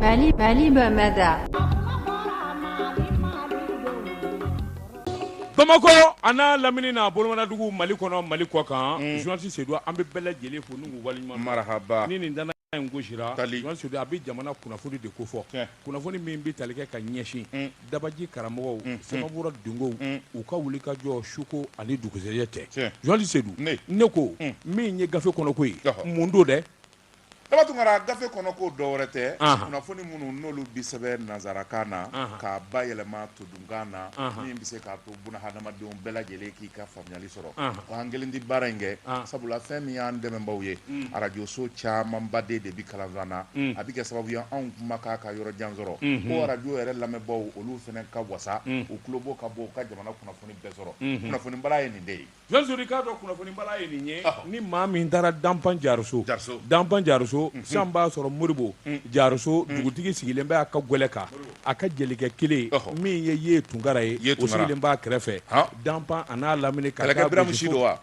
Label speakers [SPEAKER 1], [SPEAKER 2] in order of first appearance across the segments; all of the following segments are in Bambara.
[SPEAKER 1] Mali, Mali Bamada.
[SPEAKER 2] Bamakɔ a n'a lamini n'a bolomanadugu mali kɔnɔ mali kɔ kan journaliste sedu an bɛ bɛɛ lajɛlen fo n wali marahaba ni nin
[SPEAKER 3] dana
[SPEAKER 2] in gosira journaliste sedu a bɛ jamana kunnafoni de ko fɔ kunnafoni min bɛ tali kɛ ka ɲɛsin dabaji karamɔgɔw samabura dungow u ka wuli ka jɔ suko ani dugusɛjɛ cɛ journaliste sedu ne ko min ye gafe kɔnɔko ye mun don dɛ Daba
[SPEAKER 3] Tunkara gafe kɔnɔ ko dɔ wɛrɛ tɛ, anhan, kunnafoni minnu n'olu bɛ sɛbɛn nansarakan na, anhan, k'a bayɛlɛma todunkan na, anhan, min bɛ se k'a to bunahadamadenw bɛɛ lajɛlen k'i ka faamuyali sɔrɔ, anhan, ko an kelen tɛ baara in kɛ, anhan, sabula fɛn min y'an dɛmɛnbaaw ye, un, arajoso camanbaden de bɛ kalanzan na, un, a bɛ kɛ sababu ye anw kumakan ka yɔrɔ jan sɔrɔ, unhun, ko arajo yɛrɛ lamɛnbaaw olu fana ka wasa, un, u tulobo ka bɔ u ka jamana kunnafoni bɛɛ sɔrɔ, unhun, kunnafoni bala ye nin de ye. Journaliste k'a dɔn
[SPEAKER 2] kunnafoni bala ye nin ye ni maa min taara danfa jaruso danfa jaruso san b'a sɔrɔ moribo jaruso dugutigi sigilen bɛ a ka gɛlɛ kan a ka jelikɛ kelen min ye ye tunkara ye o sigilen b'a kɛrɛfɛ danfa a n'a lamini ka kɛlɛkɛ biramu si
[SPEAKER 3] don wa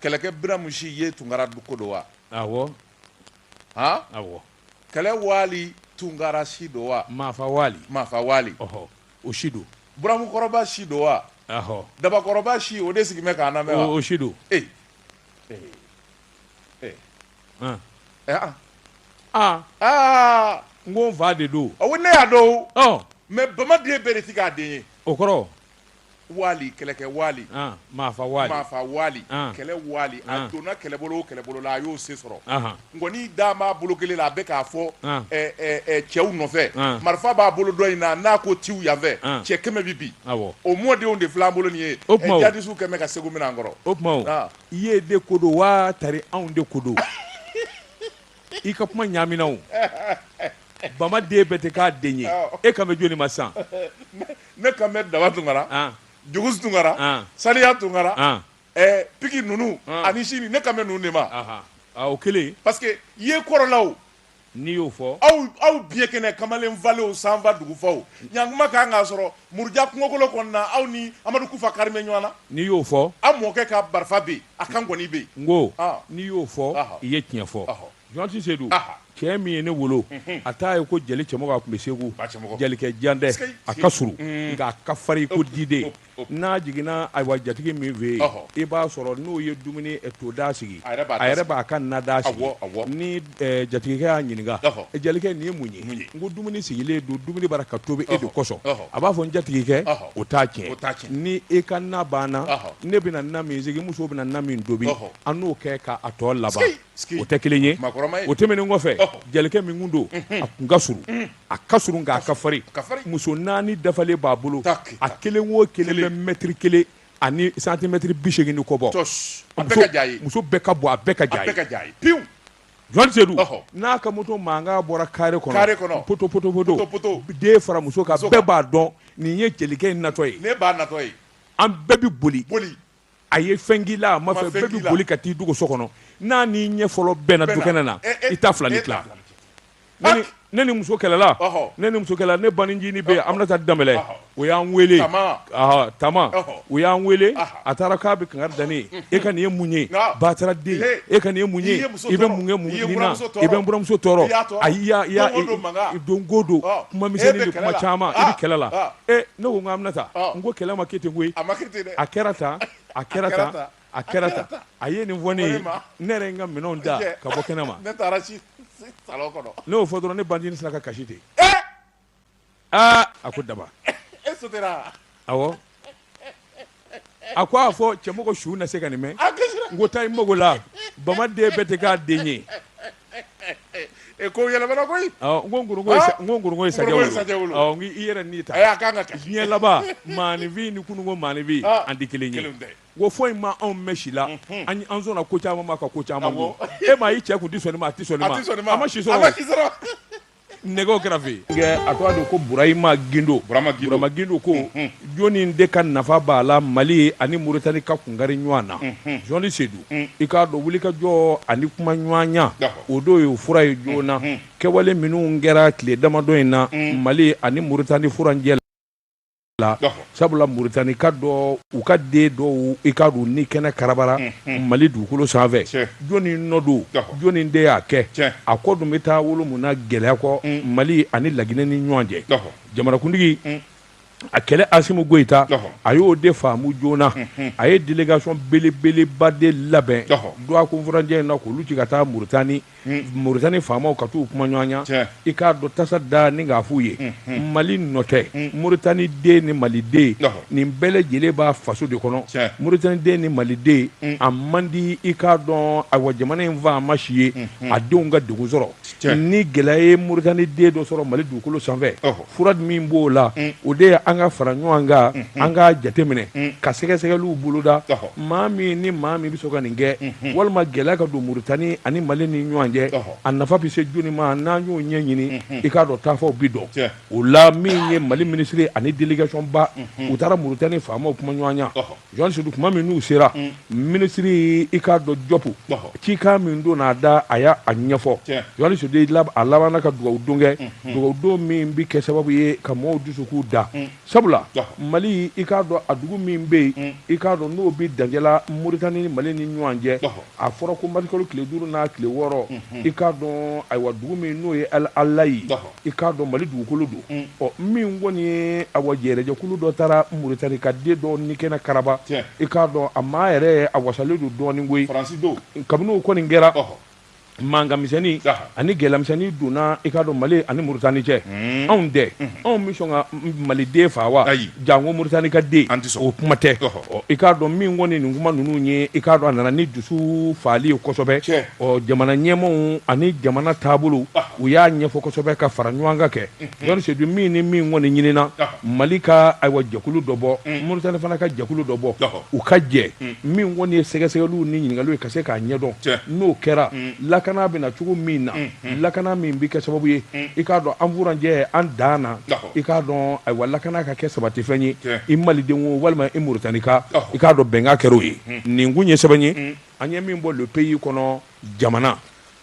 [SPEAKER 3] kɛlɛkɛ biramu si ye tunkara ko don wa
[SPEAKER 2] Kɛlɛ
[SPEAKER 3] wali tunkara si don wa maa wali
[SPEAKER 2] maafa wali o si don buramukɔrɔba si don
[SPEAKER 3] wa dabakɔrɔba si o de sigilen bɛ k'an lamɛn wa o si don e
[SPEAKER 2] aa aa n ko n fa de don a ko ne y'a dɔn
[SPEAKER 3] mais bamaden bɛɛ de tɛ k'a den ye o kɔrɔ wali kɛlɛkɛ wali ah, maafa
[SPEAKER 2] wali maafa
[SPEAKER 3] wali ah. kɛlɛ wali a ah. donna kɛlɛbolo o kɛlɛbolo la a y'o se sɔrɔ nkɔni da b'a bolo kelen la a bɛ k'a fɔ eh, eh, eh, cɛw nɔfɛ marifa b'a bolo dɔ in na n'a ko tiw yanfɛ cɛ kɛmɛ bɛ bin o mɔdenw de filɛ an bolo nin ye jadisiw kɛmɛ ka segu minɛ an kɔrɔ o tuma
[SPEAKER 2] i ye de ko don waa tari anw de ko don i ka kuma ɲaamina o bama den bɛɛ tɛ k'a den ye e kan bɛ jɔni ma san Ne
[SPEAKER 3] kan bɛ daba tunkara ann jugusi tunkara ann saniya tunkara ann ɛɛ piki ninnu ann ani sini ne kan bɛ ninnu de ma anhan aa o kelen
[SPEAKER 2] parce que ye
[SPEAKER 3] kɔrɔlaw n'i y'o fɔ
[SPEAKER 2] aw aw biɲɛkɛnɛ
[SPEAKER 3] kamalen falew sanfa dugufaw ɲankuma ka kan k'a sɔrɔ muruja kungokolo kɔnɔna aw ni Amadu Kufa kari bɛ ɲɔgɔn na n'i y'o fɔ aw
[SPEAKER 2] mɔkɛ ka marifa
[SPEAKER 3] bɛ yen a ka nkɔni bɛ yen n ko ɔɔ n'i y'o
[SPEAKER 2] fɔ ɔhɔ i ye tiɲɛ fɔ ɔhɔ Journaliste sedu cɛ min ye ne wolo a taa ye ko jeli cɛmɔgɔ a tun bɛ segu jelikɛ jan tɛ a ka surun nka a ka farin ko diden n'a jiginna ayiwa jatigi min fɛ yen i b'a sɔrɔ n'o ye dumuni toda sigi a yɛrɛ b'a ka na da sigi ni jatigikɛ y'a ɲininka jelikɛ nin ye mun ye n ko dumuni sigilen don dumuni bara ka tobi e de kosɔn a b'a fɔ n jatigikɛ o t'a tiɲɛ ni e ka na banna ne bɛna na min sigi muso bɛ na na min tobi an n'o kɛ k'a tɔ laban o tɛ kelen ye o tɛmɛnen kɔfɛ jelikɛ min kun don a kun ka surun a ka surun nk'a ka farin muso naani dafalen b'a bolo a kelen o kelen bɛ mɛtiri kelen ani santimɛtiri bi segin ni kɔ bɔ muso bɛɛ ka bon a bɛɛ ka jan a ye pewu zurunalisi Seyidu n'a ka moto mankan bɔra kare kɔnɔ potopotopoto den fara muso kan bɛɛ b'a dɔn nin ye jelikɛ in natɔ ye
[SPEAKER 3] an bɛɛ bɛ boli
[SPEAKER 2] a ye fɛn k'i la a ma fɛ bɛɛ bɛ boli ka t'i dogo so kɔnɔ n'a n'i ɲɛ fɔlɔ bɛnna dukɛnɛ na eh, eh, i ta fila ni eh, tila ne ni muso kɛlɛla ne ni muso kɛlɛla ne banincinin bɛ yen Aminata Danbɛlɛ o y'an wele Tama o y'an wele a taara k'a bɛ kankari da ne ye e ka nin ye mun ye batara den e ka nin ye mun ye i bɛ mun kɛ mun na i bɛ n buramuso tɔɔrɔ ayi i y'a i y'a don ko don kuma misɛnnin ni kuma caman i bɛ kɛlɛ la e Ne ko nka Aminata n ko kɛlɛ ma kɛ ten koyi a kɛra tan a kɛra tan a kɛra tan a ye nin fɔ ne ye ne yɛrɛ n ka minɛn da ka bɔ kɛnɛ ma ne y'o fɔ dɔrɔn ne banincinin sera ka kasi ten aa a ko daba a ko a fɔ cɛmɔgɔ su na se ka nin mɛn n ko taa i mago la bamaden bɛɛ tɛ k'a den ye
[SPEAKER 3] e ko yɛlɛmana koyi n ko nkoronko ye sa-
[SPEAKER 2] n ko nkoronko ye sajɛ Nkoronko ye wolo. sajɛ wolo. Ɔ, n ko i yɛrɛ n'i ta Ayi, a kan ka ta. diɲɛ laban maaninfin ni kununko maaninfin Ah, an tɛ kelen ye kelenw tɛ. n ko foyi ma anw mɛn si la an an sɔnna ko caman ma ka ko caman Awɔ. kun e ma i cɛ kun tɛ sɔn nin ma a tɛ sɔn nin a ma tɛ sɔn nin ma a ma si a ma sɔrɔ si sɔrɔ nɛgɛw kɛra fɛ yen a tɔgɔ de ko burahima gindo burahima gindo ko mhm. jɔnni de ka nafa b'a la mali ani muritani ka kungari ɲɔgɔn na mhm. zurunalisi seyidu mhm. i k'a dɔn wuli ka jɔ ani kuma ɲɔgɔnya o de ye fura ye joona kɛwale minnu kɛra tile damadɔ in na mali ani muritani furancɛ la la sabula muritani ka dɔ u ka den dɔw i k'a dɔn ni kɛnɛ karabara mali dugukolo sanfɛ jɔnni nɔ don jɔnni de y'a kɛ a kɔ dun bɛ taa wolo mun na gɛlɛya kɔ mali ani laginɛ ni ɲɔgɔn cɛ jamanakuntigi a kɛlɛ asimu goyita a y'o de faamu joona a ye delegasɔn belebeleba de labɛn dɔgɔkun furancɛ in na k'olu ci ka taa muritani Muritani faamaw ka t'u kuma ɲɔgɔnya i k'a dɔn tasa da ni k'a f'u ye mali nɔ tɛ muritani den ni maliden nin bɛɛ lajɛlen b'a faso de kɔnɔ muritani den ni maliden a man di i k'a dɔn ayiwa jamana in faama si ye a denw ka degun sɔrɔ ni gɛlɛya ye muritani den dɔ sɔrɔ mali dugukolo sanfɛ fura min b'o la o de ye an ka fara ɲɔgɔn kan an ka jateminɛ ka sɛgɛsɛgɛliw boloda maa min ni maa min bɛ sɔn ka nin kɛ walima gɛlɛya ka don muritani ani mali ni ɲɔgɔn cɛ a nafa bɛ se jɔnni ma n'an y'o ɲɛɲini i k'a dɔn taafaw bɛ dɔn o la min ye mali minisiri ani delegasɔnba u taara muritani faamaw kuma ɲɔgɔnya Jɔn su tuma min n'u sera minisiri i k'a dɔn jɔpu cikan min don n'a da a y'a ɲɛfɔ jɔn su a labanna ka dugawu don kɛ dugawu don min bɛ kɛ sababu ye ka maaw dusukun da sabula mali i k'a dɔn a dugu min bɛ yen i k'a dɔn n'o bɛ dancɛ la moritani ni mali ni ɲɔgɔn cɛ a fɔra ko marisikalo tile duuru n'a tile wɔɔrɔ i k'a dɔn ayiwa dugu min n'o ye alayi I k'a dɔn mali dugukolo don ɔ min kɔni ye ayiwa jɛrɛjɛkulu dɔ taara moritani ka den dɔ ni kɛnɛ karaba i k'a dɔn a maa yɛrɛ a wasalen don dɔɔnin koyi kabini o kɔni kɛra mankanmisɛnnin ani gɛlɛyamisɛnnin donna i k'a dɔn mali ani moritani cɛ anw tɛ anw bɛ sɔn ka maliden faa wa ayi janko moritani ka den an tɛ o kuma tɛ i k'a dɔn min kɔni nin kuma ninnu ye i k'a dɔn a nana ni dusu faali ye kosɛbɛ Ɔ jamana ɲɛmaaw ani jamana taabolo u y'a ɲɛfɔ kosɛbɛ ka fara ɲɔgɔn kan kɛ dɔnnidu min ni min kɔni ɲinina mali ka ayiwa jɛkulu dɔ bɔ moritani fana ka jɛkulu dɔ bɔ u ka jɛ min kɔni ye sɛgɛsɛgɛliw ni ɲininkaliw ye ka se k'a ɲɛdɔn n'o kɛra lakana bɛ na cogo min na lakana min bɛ kɛ sababu ye i k'a dɔn an furancɛ an dan na i k'a dɔn ayiwa lakana ka kɛ sabatifɛn ye i maliden o walima i moritanika i k'a dɔn bɛnkan kɛra o ye nin kun ye sɛbɛn ye An ye min bɔ le pays kɔnɔ jamana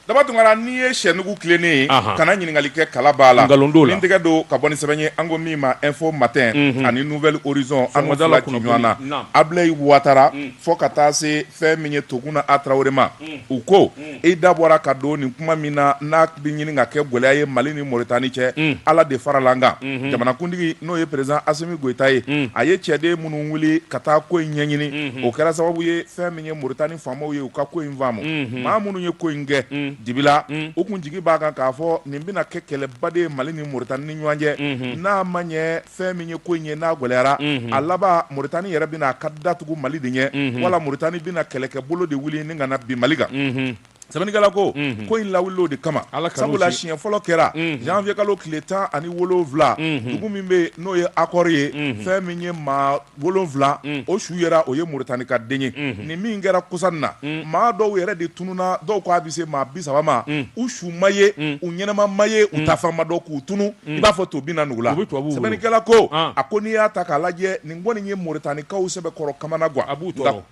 [SPEAKER 2] Daba
[SPEAKER 3] Tunkara n'i ye sɛnugu tilennen ye, anhan, kana ɲininkali kɛ kala b'a la, nkalon t'o la, n tɛgɛ don ka bɔ ni sɛbɛn ye an ko min ma info matin, unhun, ani nouvel horizon an fila ci ɲɔgɔn na, naamu, Abilayi Watara fo ka taa se fɛn min ye Toguna A Tarawele ma, un, u ko, un, i da bɔra ka don nin kuma min na n'a bɛ ɲini ka kɛ gɛlɛya ye Mali ni Mauritanie cɛ, un, Ala de farala an kan, unhun, jamanakuntigi n'o ye président Asimi Goyita ye, un, a ye cɛden minnu wuli ka taa ko in ɲɛɲini, unhun, o kɛra sababu ye fɛn min ye moritani faamaw ye u ka ko in faamu maa minnu ye ko in kɛ dibi la u tun jigi b'a kan k'a fɔ nin bɛna kɛ kɛlɛba de ye mali ni moritani ni ɲɔgɔn cɛ n'a ma ɲɛ fɛn min ye ko in ye n'a gɛlɛyara a laban moritani yɛrɛ bɛna a ka da tugu mali de ɲɛ wala moritani bɛna kɛlɛkɛbolo de wuli ni ka na bin mali kan sɛbɛnnikɛla ko mhm. ko in lawuli o de kama sabula siɲɛ fɔlɔ kɛra mhm. janvier kalo tile tan ani wolonwula mhm. dugu min bɛ n'o ye Akɔr ye fɛn min ye maa wolonwula o su yera o ye moritani ka den ye nin min kɛra kɔsa in na maa dɔw yɛrɛ de tununna dɔw ko a bɛ se maa bi saba ma u su ma ye u ɲɛnama ma ye u taafan ma dɔn k'u tunun i b'a fɔ to binna nugu la sɛbɛnnikɛla ko ah. a ko n'i y'a ta k'a lajɛ nin kɔni ye moritanikaw sɛbɛkɔrɔ kamanagan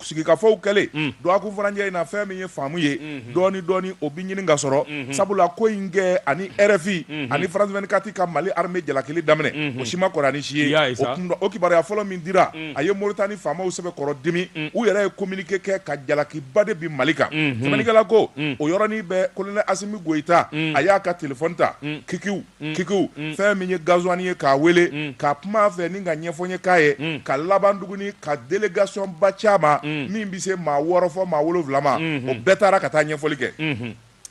[SPEAKER 3] sigikafɔw kɛlen mm. dɔgɔkun furancɛ in na fɛn min ye faamu ye mm-hmm. dɔɔni dɔɔni o bi ɲini ka sɔrɔ mm-hmm. sabula ko in kɛ ani RFI mm-hmm. ani France 24 ka Mali armée jalakili daminɛ o si ma kɔrɔ ani si ye o kun o kibaruya fɔlɔ min dira mm. a ye Mauritanie faamaw sɛbɛkɔrɔ dimi mm. u yɛrɛ ye communiqué kɛ ka jalakiba de bin Mali kan sɛbɛnnikɛla ko o yɔrɔnin bɛɛ colonel Assimi Goïta a y'a ka téléphone ta kikiw kiku fɛn min ye gazwani ye k'a weele ka kuma fɛ ni ka ɲɛfɔ ye k'a ye ka laban tuguni ka délégation ba c'a ma min bɛ se maa wɔɔrɔ fo maa wolonwula ma o bɛɛ taara ka taa ɲɛfɔli kɛ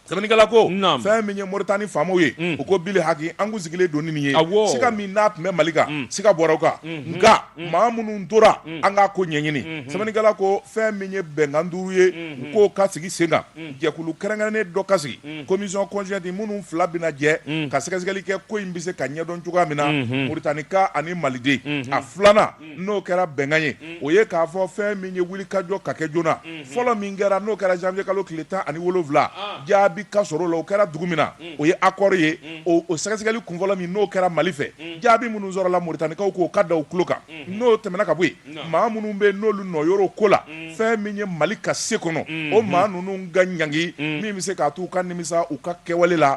[SPEAKER 3] sɛbɛnnikɛla ko fɛn min ye moritani faamaw ye u ko bili haki an kun sigilen don nin ye sika min n'a tun bɛ mali kan sika bɔra o kan nka maa minnu tora an k'a ko ɲɛɲini sɛbɛnnikɛla ko fɛn min ye bɛnkan duuru ye u k'o ka sigi sen kan jɛkulu kɛrɛnkɛrɛnnen dɔ ka sigi mm. commission conjointe minnu fila bɛna jɛ mm. ka sɛgɛsɛgɛli kɛ ko in bɛ se ka ɲɛdɔn cogoya min na mm-hmm. muritanika ani maliden mm-hmm. a filanan mm. n'o kɛra bɛnkan ye o ye k'a fɔ fɛn min ye wulikajɔ ka kɛ joona mm-hmm. fɔlɔ min kɛra n'o kɛra janvier kalo tile tan ani wolonwula ah. jaabi ka sɔrɔ o la o kɛra dugu min na o ye akɔr ye o sɛgɛsɛgɛli kunfɔlɔ min n'o kɛra mali fɛ jaabi minnu sɔrɔla muritanikaw k'o ka da u tulo kan n'o tɛmɛna ka bɔ yen maa minnu bɛ n'olu nɔ yɔrɔ ko la fɛn min ye mali ka se kɔnɔ o maa ninnu ka ɲangi min bɛ se k'a to u ka nimisa u ka kɛwale la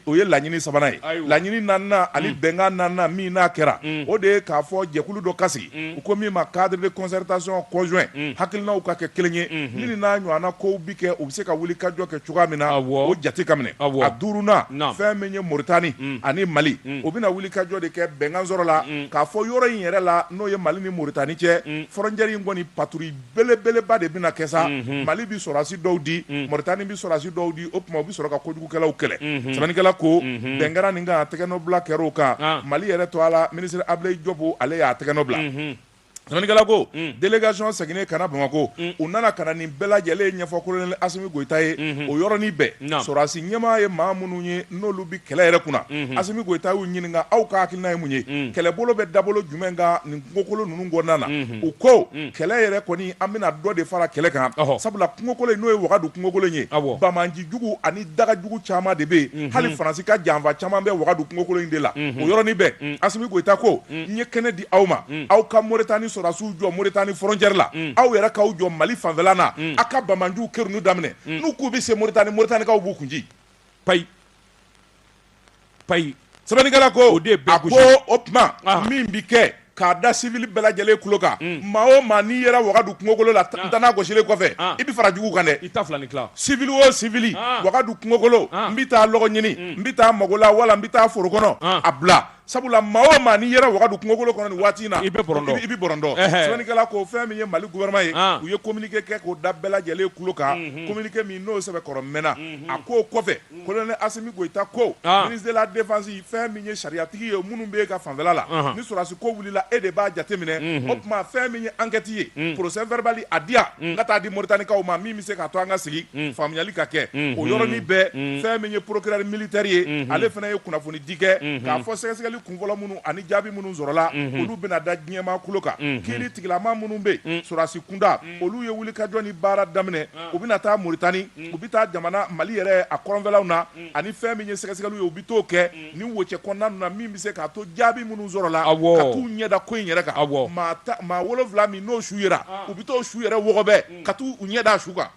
[SPEAKER 3] o ye laɲini sabanan ye laɲini naaninan ani bɛnkan naaninan min n'a kɛra o de ye k'a fɔ jɛkulu dɔ ka sigi u ko min ma cadre de concertation conjoint hakilinaw ka kɛ kelen ye ni n'a ɲɔgɔnna kow bɛ kɛ u bɛ se ka wulikajɔ kɛ cogoya min na o jate ka minɛ a duurunan fɛn min ye moritani ani mali u bɛna wulikajɔ de kɛ bɛnkan sɔrɔla k'a fɔ yɔrɔ in yɛrɛ la n'o ye mali ni moritani cɛ frontière in kɔni patrouille belebeleba de bɛna kɛ sa mali bɛ sɔrɔdasi dɔw di moritani bɛ sɔrɔdasi dɔw di o tuma u bɛ sɔrɔ ka kojugukɛlaw kɛlɛ sɛbɛnnikɛla ko bɛn kɛra nin kan a tɛgɛnɔbila kɛra o kan mali yɛrɛ tɔgɔ la minisiri ablaye diop ale y'a tɛgɛ nɔ bila sɛbɛnnikɛla ko délégation seginnen ka na bamakɔ u nana ka na nin bɛɛ lajɛlen ɲɛfɔ colonel asimi goyita ye o yɔrɔnin bɛɛ sɔrɔdasi ɲɛmaa ye maa minnu ye n'olu bɛ kɛlɛ yɛrɛ kunna asimi goyita y'u ɲininka aw ka hakilina ye mun ye kɛlɛbolo bɛ da bolo jumɛn kan nin kungokolo ninnu kɔnɔna na u ko kɛlɛ yɛrɛ kɔni an bɛna dɔ de fara kɛlɛ kan sabula kungokolo in n'o ye wagadu kungokolo in ye banbaanci jugu ani daga jugu caman de bɛ yen hali faransi ka janfa caman bɛ wagadu kungokolo in de la o yɔrɔnin bɛɛ asimi goyita ko n ye kɛnɛ di aw ma aw ka moritani sɔrɔdasiw jɔ moritani frontière la aw yɛrɛ k'aw jɔ mali fanfɛla na aw ka banbaanciw kɛrun daminɛ n'u k'u bɛ se moritani moritanikaw b'u kun payi payi sɛbɛnnikɛla ko o de ye bɛɛ gosi a ko o tuma ah. min bi kɛ k'a da sivili bɛɛ lajɛlen tulo kan hmm. maa o maa n'i yera wagadu kungokolo la ah. ntana gosilen kɔfɛ ah. i bɛ fara jugu kan dɛ i ta fila ni tila sivili o sivili wagadu kungokolo n bɛ taa lɔgɔ ɲini hmm. n bɛ taa mago la wala n bɛ taa foro kɔnɔ a bila sabula maa o maa n'i yera wagadu kungokolo kɔnɔ nin waati in na i bɛ bɔrɔndɔ i bɛ bɔrɔndɔ sɛbɛnnikɛla ko fɛn min ye Mali gouvernement ye u ye communiqué kɛ k'o da bɛɛ lajɛlen tulo kan communiqué min n'o sɛbɛkɔrɔ mɛnna a k'o kɔfɛ colonel Asimi Goyita ko ministre de la défense fɛn min ye sariyatigi ye minnu b'e ka fanfɛla la ni sɔrɔdasi ko wulila e de b'a jateminɛ o tuma fɛn min ye enquête ye procès verbal a di yan n ka taa di Moritanikaw ma min bɛ se k'a to an ka sigi faamuyali ka kɛ o yɔrɔnin bɛɛ fɛn min ye procureur militaire ye ale fana ye kunnafoni k'a fɔ sɛgɛsɛgɛli kunfɔlɔ minnu ani jaabi minnu sɔrɔla olu bɛna da diɲɛmaa tulo kan kiri tigilama minnu bɛ yen sɔrɔdasi kunda olu ye wuli ka jɔ ni baara daminɛ u bɛna taa Moritani u bɛ taa jamana Mali yɛrɛ a kɔrɔnfɛlaw na ani fɛn min ye sɛgɛsɛgɛliw ye u bɛ t'o kɛ ni wocɛ kɔnɔna ninnu na min bɛ se k'a to jaabi minnu sɔrɔla ka t'u ɲɛda ko in yɛrɛ kan maa wolonwula min n'o su yera u bɛ t'o su yɛrɛ wɔgɔbɛ ka t'u ɲɛda su kan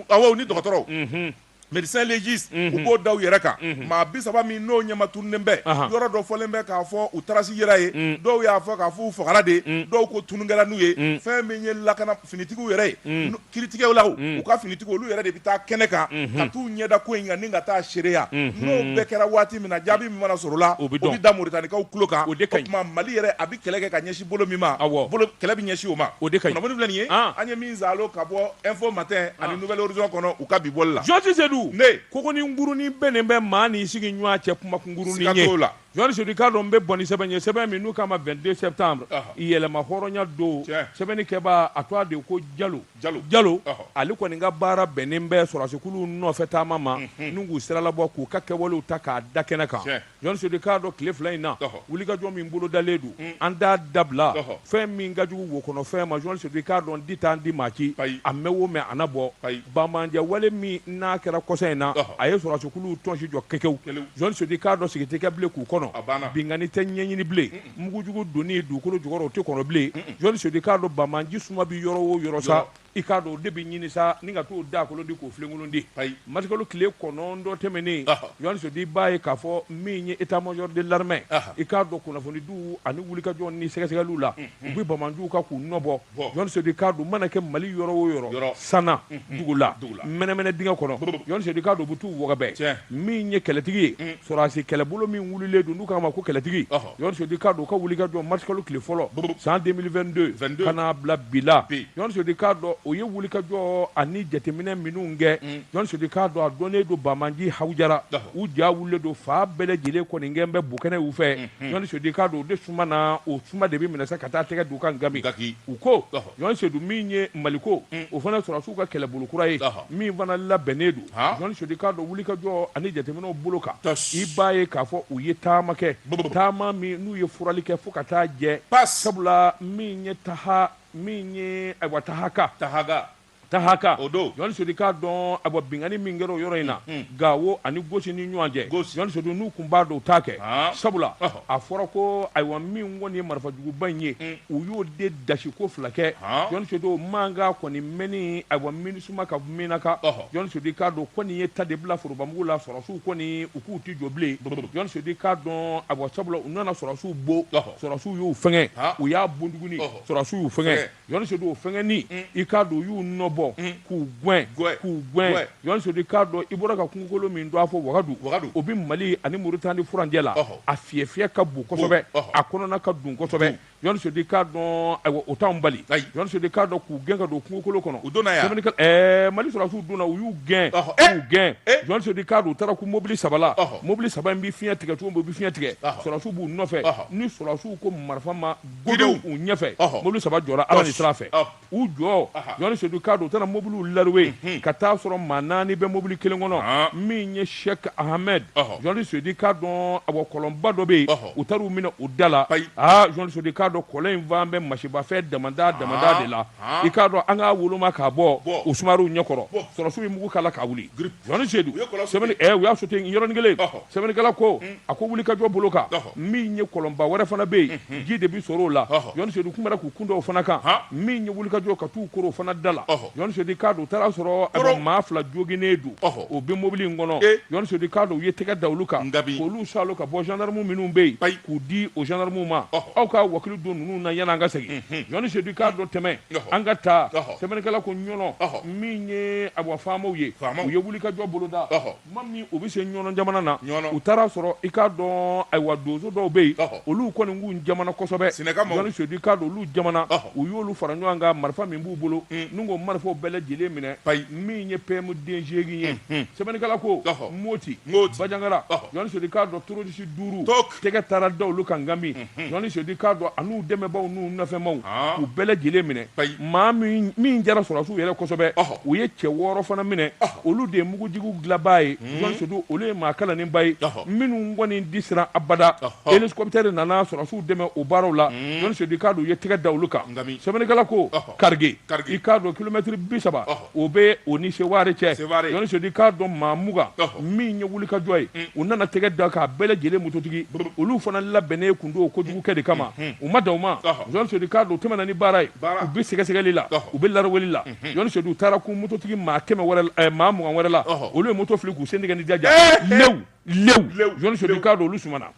[SPEAKER 3] awɔ u ni dɔgɔtɔrɔw. Médecin légiste u b'o da u yɛrɛ kan maa bi saba min n'o ɲɛma tununen bɛ yɔrɔ dɔ fɔlen bɛ k'a fɔ u trace yera ye dɔw y'a fɔ k'a fɔ u fagara de dɔw ko tunu kɛla n'u ye fɛn min ye lakana finitigiw yɛrɛ ye kiritigɛlaw u ka finitigiw olu yɛrɛ de bɛ taa kɛnɛ kan ka t'u ɲɛda ko in kan ni ka taa seereya n'o bɛɛ kɛra waati min na jaabi min mana sɔrɔ o la o bɛ da Moritanikaw tulo kan o tuma Mali yɛrɛ a bɛ kɛlɛ kɛ ka ɲɛsin bolo min ma kɛlɛ bɛ ɲɛsin o ma kunnafoni filɛ nin ye an ye min saalo ka bɔ Info Matin ani Nouvel Horizon kɔnɔ u ka bi bɔli la Jɔn Sedu ne ko ko nin kurunin bɛ nin bɛ maa ni sigi ɲɔgɔn cɛ kuma kurunin ye la Jɔn Sedu i k'a dɔn n bɛ bɔ ni sɛbɛn ye sɛbɛn min n'u k'a ma Vingt-deux Septembre yɛlɛma hɔrɔnya don sɛbɛnnikɛba a tɔgɔ de ko Jalo Jalo Jalo ale kɔni ka baara bɛnnen bɛ sɔrɔsikulu nɔfɛ taama ma n'u k'u siralabɔ k'u ka kɛwalew ta k'a da kɛnɛ kan Jɔn Sedu i k'a dɔn tile fila in na wulikajɔ min bolodalen don an t'a dabila fɛn min ka jugu wo kɔnɔ fɛn ma Jɔn Sedu i k'a dɔn di t'an di maa ci a mɛn o mɛn a na bɔ banbaanci wale min n'a kɛra kɔsa in na a ye sɔrɔsikuluw tɔnsi jɔ kɛkɛw Jɔn Sedu i k'a dɔn sigi tɛ kɛ bilen k'u kɔnɔ binkanni tɛ ɲɛɲini bilen mugujugu donni dugukolo jukɔrɔ o tɛ kɔnɔ bilen Jɔn Sedu i k'a dɔn banbaanci suma bɛ yɔrɔ o yɔrɔ sa I k'a dɔn o de bɛ ɲini sa ni ka t'o da kolon di k'o filenkolon di marisikalo tile kɔnɔntɔn tɛmɛnen Jɔn Sedu i b'a ye k'a fɔ min ye état-major de l'armée i k'a dɔn kunnafonidiw ani wulikajɔ ni sɛgɛsɛgɛliw la u bɛ banbaanciw kan k'u nɔbɔ Jɔn Sedu i k'a dɔn mana kɛ Mali yɔrɔ o yɔrɔ Sana dugu la mɛnɛmɛnɛ dingɛ kɔnɔ Jɔn Sedu i k'a dɔn u bɛ t'u wɔgɔbɛ min ye kɛlɛtigi ye sɔrɔsi kɛlɛbolo min wulilen don n'u k'a ma ko kɛlɛtigi Sedu i k'a dɔn u ka wulikajɔ marisikalo tile fɔlɔ san 2022 ka n'a bila bi la Jɔn Sedu i k'a dɔn o ye wulikajɔ ani jateminɛ minnu kɛ Jɔn Sedu i k'a dɔn a dɔnnen don banbaanciw hawujara u ja wulilen don fan bɛɛ lajɛlen kɔni kɛ bɛ bokɛnɛ u fɛ Jɔn Sedu i k'a dɔn o de suma na o suma de bɛ minɛ sa ka taa tɛgɛ d'u kan nka u ko Jɔn Sedu min ye Maliko o fana sɔrɔsiw ka kɛlɛbolo kura ye min fana labɛnnen don Jɔn Sedu i k'a dɔn wulikajɔ ani jateminɛw bolo kan i b'a ye k'a fɔ u ye taama kɛ taama min n'u ye furali kɛ fo ka taa jɛ sabula min ye taha min ye ayiwa tahaka taha
[SPEAKER 2] Tahaka jɔn sedu k'a dɔn ayiwa binkanni min kɛra o yɔrɔ in na gawo ani gosi ni ɲɔgɔn cɛ jɔn sedu n'u tun b'a dɔn u t'a kɛ sabula a fɔra ko ayiwa min kɔni ye marifajuguba in ye u y'o de dasi ko fila kɛ jɔn sedu o mankan kɔni mɛnni ayiwa minisuma ka minaka jɔn sedu k'a dɔn kɔni ye ta de bila forobamugu la sɔrɔsiw kɔni u k'u tɛ jɔ bilen jɔn sedu k'a dɔn ayiwa sabula u nana sɔrɔsiw bon sɔrɔsiw y'u fɛnkɛ u y'a bon dɔɔnin sɔrɔsiw y'u fɛnkɛ jɔn sedu o fɛnkɛni i k'a dɔn u y'u nɔbɔ k'u gɛn k'u gɛn jɔn sedu i k'a dɔn i bɔra ka kungokolo min dɔn a fɔ wagadu o bɛ mali ani moritani furancɛ la a fiyɛ fiyɛ ka bon kosɛbɛ a kɔnɔna ka dun kosɛbɛ jɔn sedu i k'a dɔn ayiwa o t'an bali jɔn sedu i k'a dɔn k'u gɛn ka don kungokolo kɔnɔ u donna yan mali sɔrɔsiw donna u y'u gɛn k'u gɛn jɔn sedu i k'a dɔn u taara kun mobili saba la mobili saba in bɛ fiɲɛ tigɛ cogo min u bɛ fiɲɛ tigɛ sɔrɔsiw b'u nɔfɛ ni sɔrɔsiw ko marifa ma Gdenw u ɲɛfɛ mobili saba jɔra ala ni sira fɛ u jɔ jɔn sedu k'a dɔn u taara mobiliw larawe ka taa sɔrɔ maa naani bɛ mobili kelen kɔnɔ min ye sɛki ahamɛdi jɔn sedu k'a dɔn a bɔ kɔlɔnba dɔ bɛ yen u taara u minɛ o da la aaa jɔn sedu k'a dɔn kɔlɔn in fan bɛ masibafɛn dama dada de la i k'a dɔn an k'a woloma k'a bɔ u sumaworow ɲɛkɔrɔ sɔrɔsiw ye mugu k'a la k'a wuli jɔn sedu u y'a sote yɔrɔnin kelen sɛbɛnnikɛla ko a ko wulikajɔ bolo kan min ye kɔlɔnba wɛrɛ fana bɛ yen ji de bɛ sɔrɔ o la jɔn sedu k'u bɔra k'u kun da o fana kan min ye wulikajɔ ka taa u koron o fana da la jɔn sedu k'a dɔn u taara sɔrɔ a maa fila joginnen don o bɛ mobili in kɔnɔ jɔn sedu k'a dɔn u ye tɛgɛ da olu kan k'olu saalo ka bɔ zandarimu minnu bɛ yen k'u di o zandarimu ma aw ka wakilu don ninnu na yan an ka segin jɔn sedu k'a dɔn tɛmɛ an ka taa sɛbɛnnikɛla ko ɲɔnɔn min ye ayiwa faamaw ye u ye wulikajɔ boloda Tuma min u bɛ se ɲɔnɔn jamana na u taara sɔrɔ i k'a dɔn ayiwa donso dɔw bɛ yen olu kɔni kun jamana kosɛbɛ jɔn sedu i k'a dɔn olu jamana u y'olu fara ɲɔgɔn kan marifa min b'u bolo n'u ko marifaw bɛɛ lajɛlen minɛ min ye pm den seegin ye sɛbɛnnikɛla ko moti banjagara jɔn sedu i k'a dɔn tɛrɔrisi duuru tɛgɛ taara da olu kan ngami jɔn sedu k'a dɔn an'u dɛmɛbaaw n'u nɔfɛmaaw u bɛɛ lajɛlen minɛ maa min jara sɔrɔsiw yɛrɛ kosɛbɛ u ye cɛ wɔɔrɔ fana minɛ olu de ye mugujugu dilanbaa ye jɔn sedu olu ye maa kalannenba ye minnu kɔni tɛ siran abada elikɔpitɛri nana sɔrɔsiw dɛmɛ o baaraw la jɔn sedu k'a dɔn u ye tɛgɛ da olu kan sɛbɛnnikɛla ko karige i k'a dɔn kilomɛtiri bi saba o bɛ o ni sewari cɛ jɔn sedu k'a dɔn maa mugan min ye wulikajɔ ye u nana tɛgɛ da k'a bɛɛ lajɛlen mototigi olu fana labɛnnen tun don kojugukɛ de kama u ma dan o ma jɔn sedu k'a dɔn u tɛmɛna ni baara ye u bɛ sɛgɛsɛgɛli la u bɛ laraweli la jɔn sedu u taara kun mototigi maa kɛmɛ maa mugan wɛrɛ la olu ye moto fili k'u sen tigɛ ni jaja lewu lewu jɔn sedu k'a dɔn olu sumana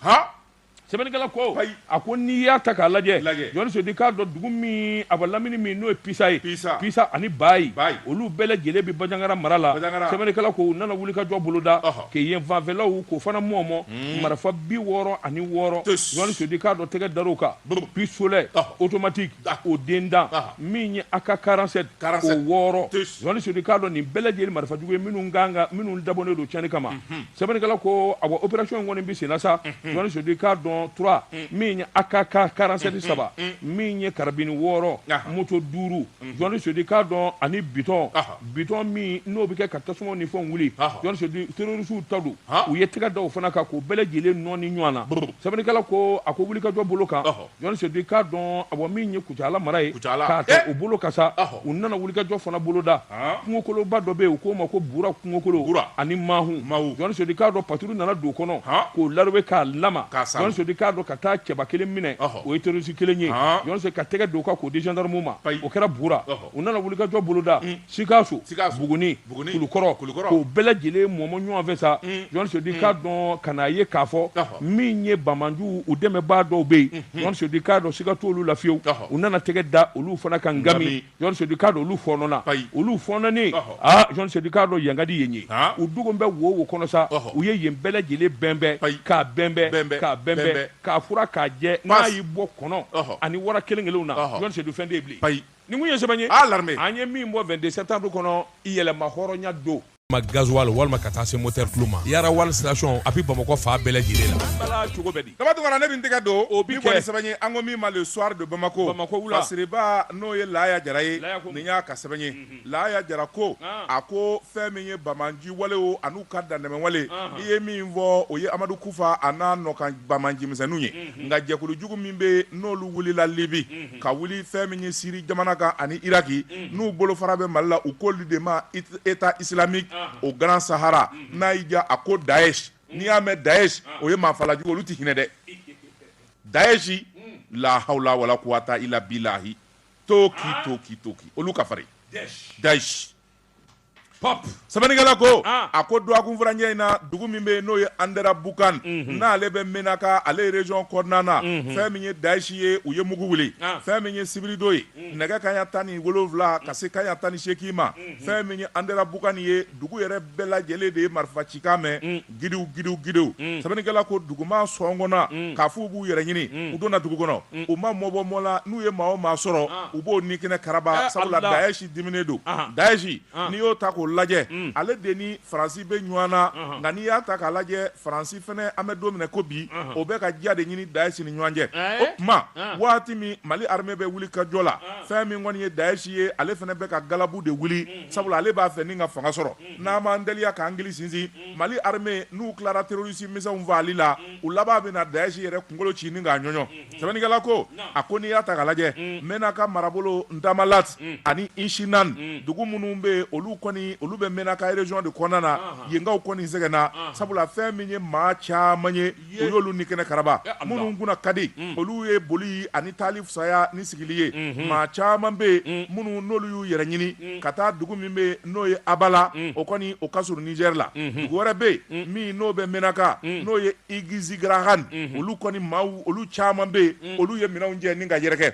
[SPEAKER 2] sɛbɛnnikɛla ko a ko n'i y'a ta k'a lajɛ jɔni sedi k'a dɔn dugu min a bɛ lamini min n'o ye pisa ye pisa ani bayi olu bɛɛ lajɛlen bɛ bajangara mara la sɛbɛnnikɛla ko u nana wuli ka jɔ boloda ke yen fanfɛlaw k'o fana mɔmɔ hmm. marifa bi wɔɔrɔ ani wɔɔrɔ jɔni sedi k'a dɔn tɛgɛ dar'o kan pistolet automatique o den dan min ye AK 47 o wɔɔrɔ jɔni sedi k'a dɔn nin bɛɛ lajɛlen marifa jugu ye minnu dabɔnen don tiɲɛni kama mhm. sɛbɛnnikɛla ko a bɔ opération in kɔni bɛ senna sa Jɔni Sedi k'a dɔn trois min ye AK 47 saba min ye karabini wɔɔrɔ moto duuru Jɔni Sedi k'a dɔn ani bitɔn bitɔn min n'o bɛ kɛ ka tasuma ni fɛnw wuli Jɔni Sedi terroristes ta don u ye tɛgɛ da o fana kan k'o bɛɛ lajɛlen nɔɔni ɲɔgɔn na sɛbɛnnikɛla ko a ko wulikajɔ bolo kan Jɔn sedi k'a dɔn a bɔ min ye kucala mara ye k'a ta o bolo kan sa u nana wulikajɔ fana boloda kungokoloba dɔ bɛ yen u k'o ma ko bura kungokolo ani mahu jɔn sedi k'a dɔn patrouille nana don kɔnɔ k'o larowe k'a lama jɔn sedi k'a dɔn ka taa cɛba kelen minɛ o ye terroriste kelen ye jɔn sedi ka tɛgɛ d'o kan k'o di gendarme ma o kɛra bura U nana wulikajɔ boloda sikaso buguni kulukɔrɔ k'o bɛɛ lajɛlen mɔmɔ ɲɔgɔn fɛ sa jɔn sedi k'a dɔn ka n'a ye k'a fɔ min ye banbaanciw u dɛmɛbaa dɔw bɛ yen jɔn sedi k'a dɔn siga t'olu la fiyewu u nana tɛgɛ da olu fana kan gami jɔn sedi k'a dɔn olu fɔɔnɔna olu fɔɔnɔnen jɔn sedi k'a dɔn yankadi yen ye u dugu bɛ wo wo kɔnɔ sa u ye yen bɛɛ lajɛlen bɛnbɛn k'a bɛnbɛn k'a bɛnbɛn k'a furan k'a jɛ n'a y'i bɔ kɔnɔ ani wara kelen kelen na jɔn sedi fɛn de Nin kun ye sɛbɛn ye a larime an ye min bɔ vingt-deux septembre kɔnɔ yɛlɛma hɔrɔnya don ma gasoil walima ka taa se motɛrɛ tulu ma yara oil station a bɛ bamakɔ fan bɛɛ lajɛlen la bala cogo bɛ di dama tunkara ne bɛ n tɛgɛ don
[SPEAKER 3] o bi kɛ sɛbɛn ye an ko min ma le soir de bamakɔ bamakɔ wula siriba
[SPEAKER 2] n'o
[SPEAKER 3] ye laya jara ye nin y'a ka sɛbɛn ye laya jara ko a ko fɛn min ye banbaanci walew ani u ka dantɛmɛwale i ye min fɔ o ye amadu kufa a n'a nɔkan banbaancimisɛnninw ye nka jɛkulujugu min bɛ n'olu wulila libi ka wuli fɛn min ye siri jamana kan ani iraki n'u bolofara bɛ mali la u k'olu de ma état islamique au grand sahara n'a y'i diya a ko daesh n'i y'a mɛn daesh o ye maafalajugu olu tɛ hinɛ dɛ daesh lahawla wala kuwata ila bilahi toki toki toki olu ka farin dayi Sɛbɛnnikɛla ko a ko dɔgɔkun furancɛ in na dugu min bɛ yen n'o ye anderabukan n'ale bɛ menaka ale région kɔnɔna na fɛn min ye daesh ye u ye mugu wuli fɛn min ye sibiridon ye nɛgɛ kaya tan ni wolowula ka se kaya tan ni seegin ma fɛn min ye anderabukan ye dugu yɛrɛ bɛɛ lajɛlen de ye marifa cikan mɛn gidiw gidiw gidiw mm. sɛbɛnnikɛla ko dugumaa sɔngɔnna mm. k'a f'u b'u yɛrɛ ɲini mm. u donna dugu kɔnɔ u ma mɔ bɔ mɔ la n'u ye maa o maa sɔrɔ ah. u b'o ni kɛnɛ karaba eh, sabula dayɛsi diminen don ah. dayɛsi ah. n'i y'o ta k'o lajɛ ale de ni faransi bɛ ɲɔgɔn na nka n'i y'a ta k'a lajɛ faransi fɛnɛ an bɛ don min na i ko bi o bɛ ka diya de ɲini dayɛsi ni ɲɔgɔn cɛ eh? o tuma waati min mali armée bɛ wuli ka jɔ la fɛn min kɔni ye dayɛsi ye ale fɛnɛ bɛ ka galabu de wuli sabula ale b'a fɛ ni ka fanga sɔrɔ n'an m'an teliya k'an gili sinsin Mali armée n'u tilara terroriste misɛnw fagali la, u laban bɛna Daesh yɛrɛ kunkolo ci ni k'a ɲɔɲɔ. Sɛbɛnnikɛla ko, a ko n'i y'a ta k'a lajɛ, Menaka marabolo Tamalat ani Inshinan, dugu minnu bɛ yen, olu kɔni olu bɛ Menaka région de kɔnɔna na, yenkaw kɔni sɛgɛnna, sabula fɛn min ye maa caman ye u y'olu ni kɛnɛ karaba minnu kunna ka di olu ye boli ani taali fisaya ni sigili ye maa caman bɛ yen minnu n'olu y'u yɛrɛ ɲini ka taa dugu min bɛ yen n'o ye abala o kɔni o ka surun niger la dugu wɛrɛ bɛ yen min n'o bɛ menaka n'o ye igizigarahan olu kɔni maaw olu caman bɛ yen olu ye minɛnw cɛ ni ka yɛrɛkɛ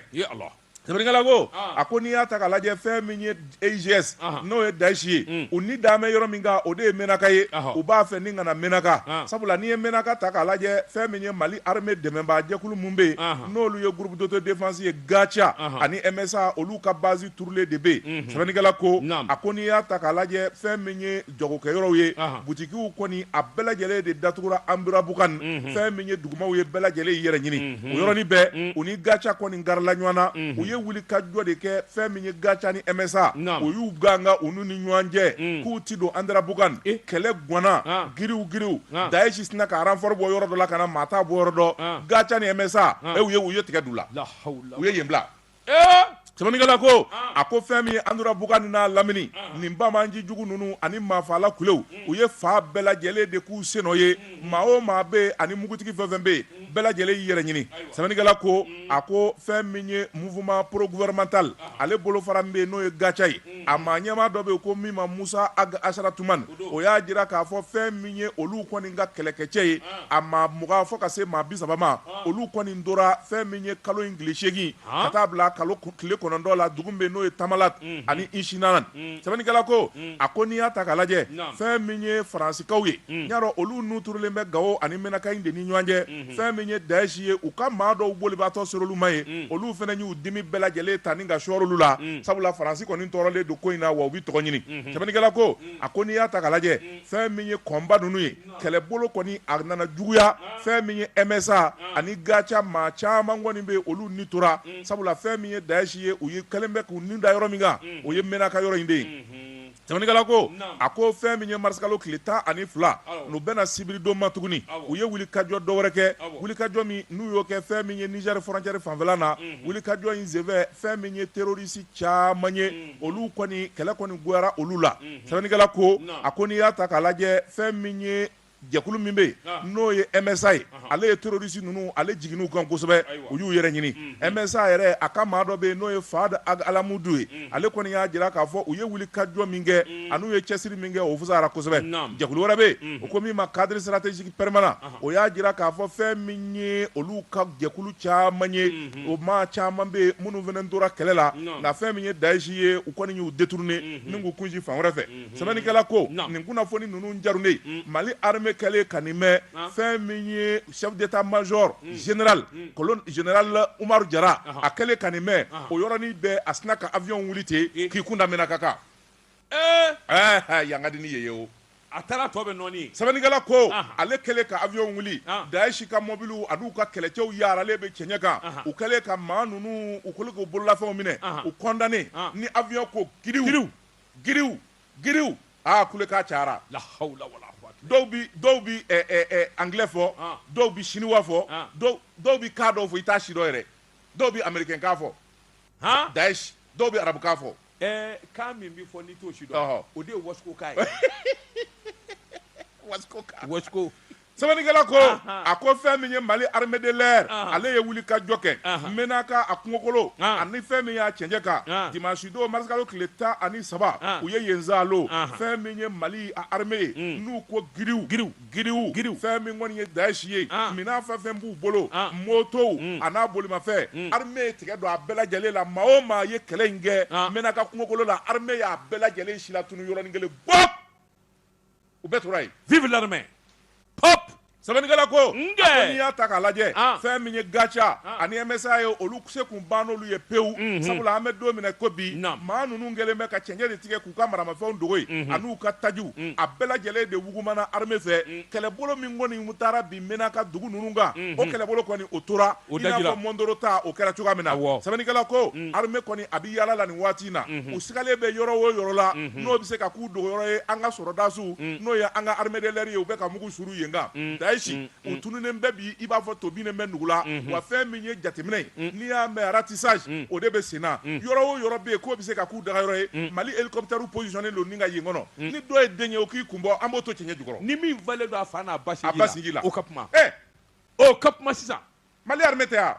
[SPEAKER 3] Sɛbɛnnikɛla ko, an, a ko n'i y'a ta k'a lajɛ fɛn min ye EIGS, anhan, n'o ye Dayishi ye, un, u ni dalen bɛ yɔrɔ min kan o de ye menaka ye, ɔhɔ, u b'a fɛ ni ka na menaka, an, sabula n'i ye menaka ta k'a lajɛ fɛn min ye Mali armée dɛmɛnbaa jɛkulu minnu bɛ yen, anhan, n'olu ye groupe d'autodéfense ye GATIA, anhan, ani MSA olu ka base turulen de bɛ yen, unhun, sɛbɛnnikɛla ko, naamu, a ko n'i y'a ta k'a lajɛ fɛn min ye jagokɛ yɔrɔw ye butigiw kɔni a bɛɛ lajɛlen de datugura anderabukan fɛn min ye dugumaw ye bɛɛ lajɛlen y'i yɛrɛ ɲini o yɔrɔnin bɛɛ u ni gaca kɔni garila ɲɔgɔn na u ye wuli ka jɔ de kɛ fɛn min ye gaca ni MSA u y'u ganga u ni ɲɔgɔn cɛ k'u tɛ don anderabukan kɛlɛ gwanna giriw giriw daesh sinna ka renfort bɔ yɔrɔ dɔ la ka na maa t'a bɔyɔrɔ dɔn gaca ni MSA u ye u ye tigɛ du la u ye yen bila Sɛbɛnnikɛla ko a ko fɛn min ye anderabukan n'a lamini nin banbaanci jugu ninnu ani maafala kulew u ye fan bɛɛ lajɛlen de k'u sennɔ ye maa o maa bɛ yen ani mugutigi fɛn o fɛn bɛ yen bɛɛ lajɛlen y'i yɛrɛ ɲini sɛbɛnnikɛla ko a ko fɛn min ye mouvement progouvernemental ale bolofara min bɛ yen n'o ye gaca ye a maa ɲɛmaa dɔ bɛ yen ko min ma Moussa Ag Acharatoumane o y'a jira k'a fɔ fɛn min ye olu kɔni ka kɛlɛkɛcɛ ye a maa mugan fo ka se maa bi saba ma olu kɔni tora fɛn min ye kalo in tile seegin ka taa bila kalo tile kɔnɔntɔn la dugu bɛ yen n'o ye tamalat ani inshinan sɛbɛnnikɛla ko a ko n'i y'a ta k'a lajɛ fɛn min ye faransikaw ye n'i y'a dɔn olu n'u turulen bɛ gawo ani mɛnaka in de ni ɲɔgɔn cɛ fɛn min ye daesh ye u ka maa dɔw bolibaatɔ ser'olu ma ye olu fɛnɛ y'u dimi bɛɛ lajɛlen ta ni ka sɔrɔ olu la sabula faransi kɔni tɔɔrɔlen don ko in na wa u bɛ tɔgɔ ɲini sɛbɛnnikɛla ko a ko n'i y'a ta k'a lajɛ fɛn min ye kɔnba ninnu ye kɛlɛbolo kɔni a nana juguya fɛn min ye MSA ani gaca maa caman kɔni bɛ yen olu ni tora sabula fɛn min ye daesh ye u ye kɛlen bɛ k'u ni da yɔrɔ min kan o ye menaka yɔrɔ in de ye Sɛbɛnnikɛla ko, naamu, a ko fɛn min ye marisikalo tile tan ani fila, awɔ, n'o bɛnna sibiridon ma tuguni, awɔ, u ye wulikajɔ dɔ wɛrɛ kɛ, awɔ, wulikajɔ min n'u y'o kɛ fɛn min ye Niger frontière fanfɛla na, unhun, wulikajɔ in senfɛ fɛn min ye terorisi caman ye, unhun, olu kɔni kɛlɛ kɔni goyara olu la, unhun, sɛbɛnnikɛla ko, naamu, a ko n'i y'a ta k'a lajɛ fɛn min ye jɛkulu min bɛ yen n'o ye MSA ye ale ye terroriste ninnu ale jiginna u kan kosɛbɛ u y'u yɛrɛ ɲini MSA yɛrɛ a ka maa dɔ bɛ yen n'o ye Fahad Ag Almahmoud ye ale kɔni y'a jira k'a fɔ u ye wulikajɔ min kɛ an'u ye cɛsiri min kɛ o fusayara kosɛbɛ jɛkulu wɛrɛ bɛ yen u ko min ma cadre stratégique permanent o y'a jira k'a fɔ fɛn min ye olu ka jɛkulu caman ye o maa caman bɛ yen minnu fana tora kɛlɛ la nka fɛn min ye Daesh ye u kɔni y'u détourner ni k'u kunsin fan wɛrɛ fɛ. sɛbɛnnikɛla ko nin kunnafoni ninnu jarunen Mali armée kɛlen ka nin mɛn fɛn min ye chef d'état-major général colonel général Umaru Jara a kɛlen ka nin mɛn o yɔrɔnin bɛɛ a sinna ka avion wili ten k'i kun da Menaka kan ɛɛ yan ka di ni yen ye o a taara tɔ
[SPEAKER 2] bɛɛ nɔɔni sɛbɛnnikɛla
[SPEAKER 3] ko ale kɛlen ka avion wuli Daesh ka mɔbili ani'u ka kɛlɛcɛ yaaralen bɛ cɛncɛn kan u kɛlen ka maa ninnu u kolo' bololafɛnw minɛ u condamné ni avion ko giriw Giriw giriw aa kulekan cayara. La hawula wala
[SPEAKER 2] kuwata. Dɔw bi dɔw bi ɛ ɛ
[SPEAKER 3] ɛ anglais fɔ. Ɔn! Dɔw bi chinois fɔ. Ɔn! Dɔw dɔw bi kan dɔw fɔ i t'a sidɔn yɛrɛ. Dɔw bi américain kan fɔ. Han! Daesh dɔw bi arabu kan fɔ. Ɛɛ kan min
[SPEAKER 2] bi fɔ n'i t'o sidɔn. Ɔhɔ! O de ye wasiko kan ye. Wasiko kan. Wasiko.
[SPEAKER 3] Sɛbɛnnikɛla ko a ko fɛn min ye Mali armée de l'air ale ye wulikajɔ kɛ Menaka a kungokolo ani fɛn min y'a cɛncɛn kan dimanche don mars kalo tile tan ani saba u ye yen zalo fɛn min ye Mali a armée ye n'u ko giriw giriw fɛn min kɔni ye Daesh ye minan fɛn fɛn b'u bolo motow an'a bolimafɛn armée ye tigɛ don a bɛɛ lajɛlen la maa o maa ye kɛlɛ in kɛ Menaka kungokolo la armée y'a bɛɛ lajɛlen silatunu yɔrɔnin kelen bɔp u bɛɛ tora yen vive
[SPEAKER 2] l'armée pop sɛbɛnnikɛla
[SPEAKER 3] ko n'i y'a ta k'a lajɛ ah. fɛn min ye GATIA ah. ani MSA ye olu se kun ban n'olu ye pewu mhm. sabula an bɛ don min n'i ko bi maa ninnu kɛlen bɛ ka cɛncɛn de tigɛ k'u ka maramafɛnw dogo yen mhm. an'u ka tajiw mm. a bɛɛ lajɛlen de wugumana armée fɛ mm. kɛlɛbolo min kɔni taara bi Menaka dugu ninnu kan mhm. o kɛlɛbolo kɔni o tora O da jira. I n'a fɔ Mɔndoro ta o kɛra cogoya min na. Awɔ. Sɛbɛnnikɛla ko. Un. Armée kɔni a bɛ yaala la nin waati in na. Unhun. U sigalen bɛ yɔrɔ o yɔrɔ la. Unhun. N'o bɛ se ka k'u dogoyɔrɔ ye an ka sɔrɔdasiw. Un. N'o ye an ka armée de l'air ye u bɛ ka mugu suru yen kan. Un. Daesh. Un. Un. U tununen bɛ bi i b'a fɔ to binnen bɛ nugu la. Unhun. Wa fɛn min ye jateminɛ ye. Un. N'i y'a mɛn ratissage. Un. O de bɛ sen na. Un. Yɔrɔ o yɔrɔ bɛ yen k'o bɛ se ka k'u dagayɔrɔ ye. Un. Mali hélicoptères positionné don ni ka yen kɔnɔ. Un. Ni dɔ ye den ye o k'i kun bɔ an b'o to cɛncɛn jukɔrɔ. Ni min falen don a fa
[SPEAKER 2] n'a ba sinji la. A ba sinji la. O ka kuma. Ɛ! ɔ ka kuma sisan mali
[SPEAKER 3] armée tɛ a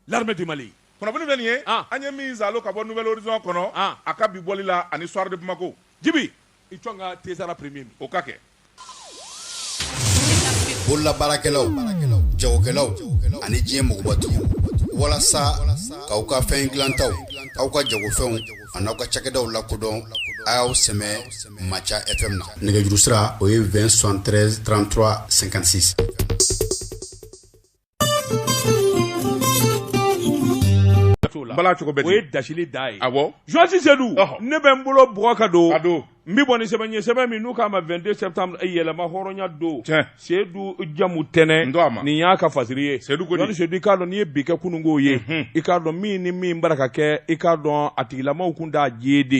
[SPEAKER 3] l'armée du
[SPEAKER 2] mali kunnafoni bɛ nin ye
[SPEAKER 3] ah. an ye min zalo ka bɔ nouvel horizon kɔnɔ ah. a ka bi bɔli la ani soir de bamako jibi i
[SPEAKER 2] cɔn ka tesara premier min o ka
[SPEAKER 4] kɛ bololabaarakɛlaw jagokɛlaw ani diɲɛ mɔgɔbatigiw walasa k'aw ka fɛn dilantaw aw ka jagofɛnw an'aw ka cakɛdaw lakodɔn a y'aw sɛmɛ Maca FM na nɛgɛjuru sira o ye 20 73 33 56
[SPEAKER 3] bala cogo bɛ di o ye dasili da ye awɔ
[SPEAKER 2] journaliste Seydou
[SPEAKER 3] ɔhɔ
[SPEAKER 2] ne bɛ n bolo bugɔ ka don a don n bɛ bɔ ni sɛbɛn ye sɛbɛn min n'u k'a ma 22 septembre eh, yɛlɛma hɔrɔnya don sedu jamutɛnɛ nin y'a ka fasiri ye journaliste sedu i k'a dɔn n'i ye bi kɛ kununko ye mhm. i k'a dɔn min ni min bara ka kɛ i k'a dɔn a tigilamaw kunda urd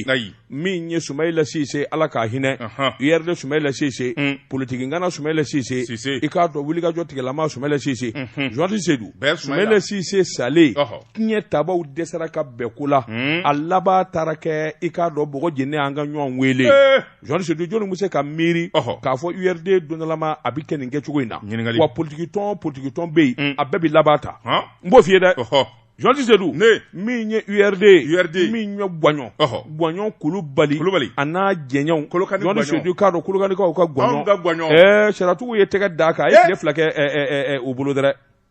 [SPEAKER 2] min ye sumayila sise ala ka hinɛ urd sumayila sise mm. politiki ngana sumayila sise i k'a dɔn wulikajɔ tigilama sumayila sise journaliste mhm. sedu sumayila sise salen tiɲɛtabaw dɛsɛra ka bɛn ko la hmm. a laban taara kɛ i k'a dɔn bɔgɔ jeni an ka ɲɔgɔn wele eh. journaliste sedu jɔni bɛ se ka miiri k'a fɔ urd dondalama a bɛ kɛ nin kɛ cogo in na wa politikitɔn politikitɔn bɛ yen hmm. a bɛɛ bɛ laban tan n b'o f'i ye dɛ journaliste sedu ne min ye urd urd min ye gwaɲɔn gwaɲɔn kulubali kulubali a n'a jɛɲɛw kolokani journaliste sedu k'a dɔn kolokanikaw ka gwaɲɔn ka gwaɲɔn ɛɛ sariyatigiw ye tɛgɛ d'a kan a ye tile fila kɛ o bolo dɛrɛ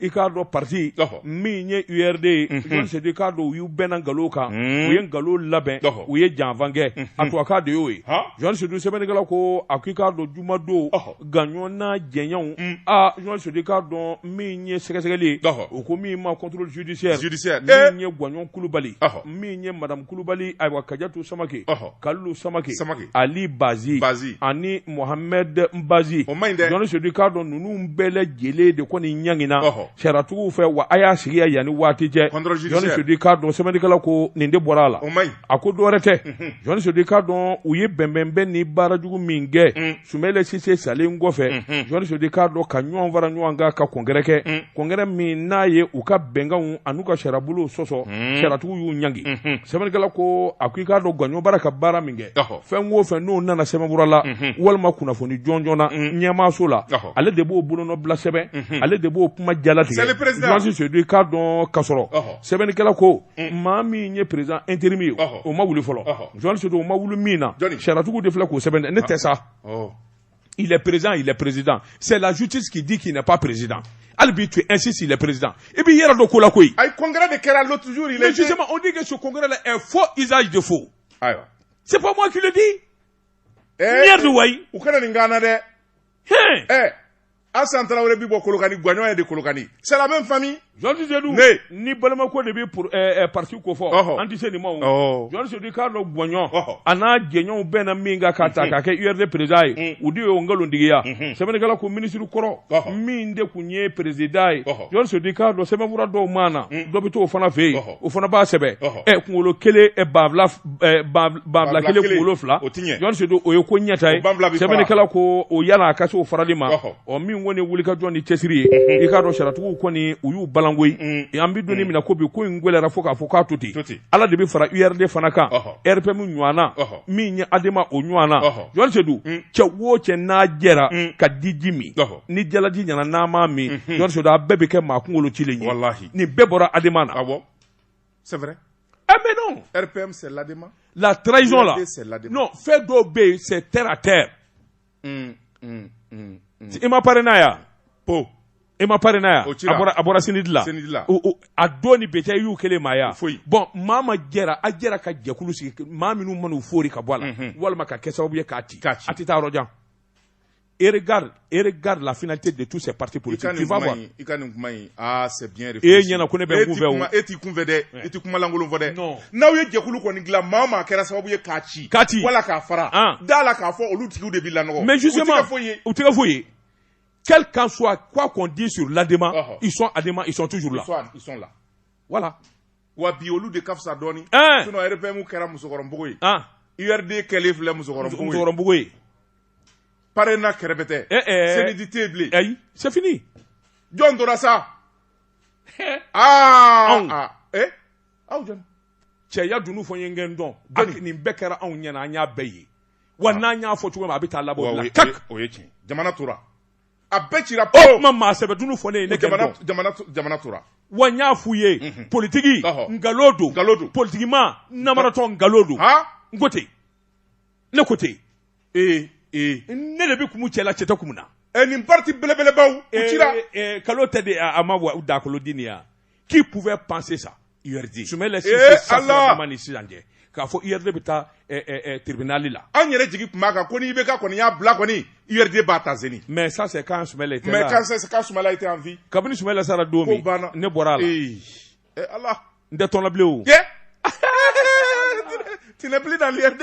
[SPEAKER 2] i k'a dɔn pati min ye urd journaliste sedu i k'a dɔn u y'u bɛnna nkalon kan u ye nkalon labɛn u ye janfa kɛ a tubabukan de y'o ye journaliste sedu sɛbɛnnikɛla ko a ko i k'a dɔn jumadon gwaɲɔn n'a jɛɲɛw journaliste sedu i k'a dɔn min ye sɛgɛsɛgɛli u ko min ma contrôle judiciaire min ye gwaɲɔn kulubali min ye madame kulubali ayiwa kajatu samake kalilu samake ali bazi bazi ani mohamɛd bazi o man ɲi dɛ journaliste sedu i k'a dɔn ninnu bɛɛ lajɛlen de kɔni ɲangina sariyatigiw fɛ wa a y'a sigi yanni waati cɛ journaliste sedu i k'a dɔn sɛbɛnnikɛla ko nin de bɔra a la o man ɲi a ko dɔwɛrɛ tɛ mhm. journaliste sedu i k'a dɔn u ye bɛnbɛnbɛn ni baara jugu min kɛ mm. sumayila sise salen kɔfɛ mhm. journaliste sedu i k'a dɔn ka ɲɔgɔn fara ɲɔgɔn kan ka congrès kɛ mm. congrès min n'a ye u ka bɛnkanw an'u ka sariyabolow sɔsɔ mm. sariyatigiw y'u ɲangi mhm. sɛbɛnnikɛla ko a ko i k'a dɔn gwaɲɔn bara ka baara min fɛn wo fɛn n'o nana sɛbɛnkura la walima kunnafoni jɔn joonana ɲɛmaaso la ale de b'o bolona bila sɛbɛn ale de b'o kuma jalasi sodu i k'a dɔn ka sɔrɔ sɛbɛnnikɛla ko maa min ye perez e terire min ye o ma wuli fɔlɔ sodu o ma wuli min na siraratugu de filɛ k'o sɛbɛn ne tɛ sa i perez i perezd sɛlajuti k'i di k'i pan perezsid hali b'i to ɛsi si la perezd i b'i yɛrɛ don ko la koyi a kɔnkɛ de kɛra
[SPEAKER 3] tuj la o de kɛ so kɔnkɛ
[SPEAKER 2] la fo izali de fo ayiwa c'est pas moi qui le dis eh, merde wayi u kana nin gana
[SPEAKER 3] dɛ hein eh Asan Traoré bi bɔ Kolokani Guagnon est de Kolokani c'est la même famille John Sedou
[SPEAKER 2] ni balimako de bi pour eh, eh, parti ko fɔ oh, oh. an tɛ se nin ma o John Sedou k'a dɔn Guagnon oh, a n'a jɛɲɔgɔnw bɛnna min kan k'a ta k'a kɛ URD président ye mm. u de y'o nkalontigiya mm-hmm. sɛbɛnnikɛla ko minisiri kɔrɔ min de tun ye président ye John Sedou k'a dɔn sɛbɛnfura dɔw ma na mm. dɔ bɛ t'o fana fɛ yen o fana b'a sɛbɛn ɛ kunkolo kelen banfula banfula kelen kunkolo fila John Sedou o ye ko ɲɛta ye sɛbɛnnikɛla ko o yala a ka se o farali ma ɔ min kɔni wuli ka jɔ ni cɛsiri ye i k'a dɔn sariyatigiw kɔni u y'u balanko ye an bɛ don min na ko bi ko in gɛlɛyara fo k'a fɔ k'a to ten ala de bɛ fara urd fana kan rpm ɲɔgɔnna min ye adema o ɲɔgɔnna John Sedou cɛ o cɛ n'a jɛra ka diji min ni jalaji nana n'a m'a min John Sedou a bɛɛ bɛ kɛ maa kunkolo cilen ye nin bɛɛ bɔra adema na
[SPEAKER 3] ah c'est vrai eh mais
[SPEAKER 2] non rpm c'est
[SPEAKER 3] l'adema la trahison
[SPEAKER 2] là non fɛn dɔw bɛ yen c'est terre à terre i ma parena ye wa ko i ma parena ye wa a bɔra cnid la a don ni bɛɛcɛ y'u kelen maaya bon maa o maa jɛra a jɛra ka jɛkulu sigi maa minnu man'u fori ka bɔ a la walima ka kɛ sababu ye k'a ci a tɛ taa yɔrɔjan et regarde, et regarde la finalité de tous ces partis politiques. Tu vas voir. I ka nin kuma in,
[SPEAKER 3] ah c'est bien réfléchi. E ɲɛna ko ne bɛ kunfɛ o.
[SPEAKER 2] E tɛ kunfɛ dɛ, e
[SPEAKER 3] tɛ kuma lankolon fɔ dɛ. Non. N'aw ye jɛkulu kɔni dilan maa o maa kɛra sababu ye k'a ci. K'a ci. Wala k'a fara. An. Da a la k'a fɔ olu tigiw de bɛ lanɔgɔ. Mais justement, u tɛ kɛ foyi
[SPEAKER 2] ye. U tɛ kɛ foyi ye. Quel qu'en soit, quoi qu'on dise sur l'ADEMA, uh -huh. ils sont ADEMA, ils sont toujours là. Ils sont, ils sont là.
[SPEAKER 3] Voilà.
[SPEAKER 2] wa bi
[SPEAKER 3] olu de ka fisa dɔɔni eh. sinon RPM kɛra musokɔrɔbugu ye ah. URD kɛlen filɛ musokɔrɔbugu ye PARENA kɛrɛbɛtɛ eh, eh. CNID tɛ bilen ayi c'est fini
[SPEAKER 2] jɔn tora
[SPEAKER 3] sa aa ah, eh aw
[SPEAKER 2] jɔn cɛya dunun fɔ n ye n ka n dɔn hali nin bɛɛ kɛra anw ɲɛna an y'a bɛɛ ye wa ah. n'an y'a fɔ cogo min a bɛ taa laban o la o ye tiɲɛ jamana
[SPEAKER 3] tura a bɛɛ cira o kuma
[SPEAKER 2] maa sɛbɛ dunun fɔ ne ye ne jamana jamana
[SPEAKER 3] jamana tura wa n y'a f'u
[SPEAKER 2] ye mhm. politiki nkalon don nkalon don politikimaa namaratɔ nkalon don n ko ten ne ko ten ee ee ne de bɛ kumu cɛ la cɛ tɛ kumu n na nin parti
[SPEAKER 3] belebelebaw u cira nkalon
[SPEAKER 2] tɛ dɛ a ma wa dakolo di nin ya qui pouvait penser ça URD je me laisse eh, Allah
[SPEAKER 3] ni sisan cɛ
[SPEAKER 2] k'a fɔ URD bɛ taa eh, eh, eh, tribunal la an yɛrɛ jigi tun b'a kan ko
[SPEAKER 3] ni IBK kɔni y'a bila kɔni URD b'a ta zeni mais ça c'est quand Soumaïla
[SPEAKER 2] était là mais quand c'est quand Soumaïla était
[SPEAKER 3] en vie kabini Soumaïla sara don
[SPEAKER 2] min ne bɔra a la ee eh, Allah n
[SPEAKER 3] tɛ tɔn na bilen o tu n'es plus dans
[SPEAKER 2] l'URD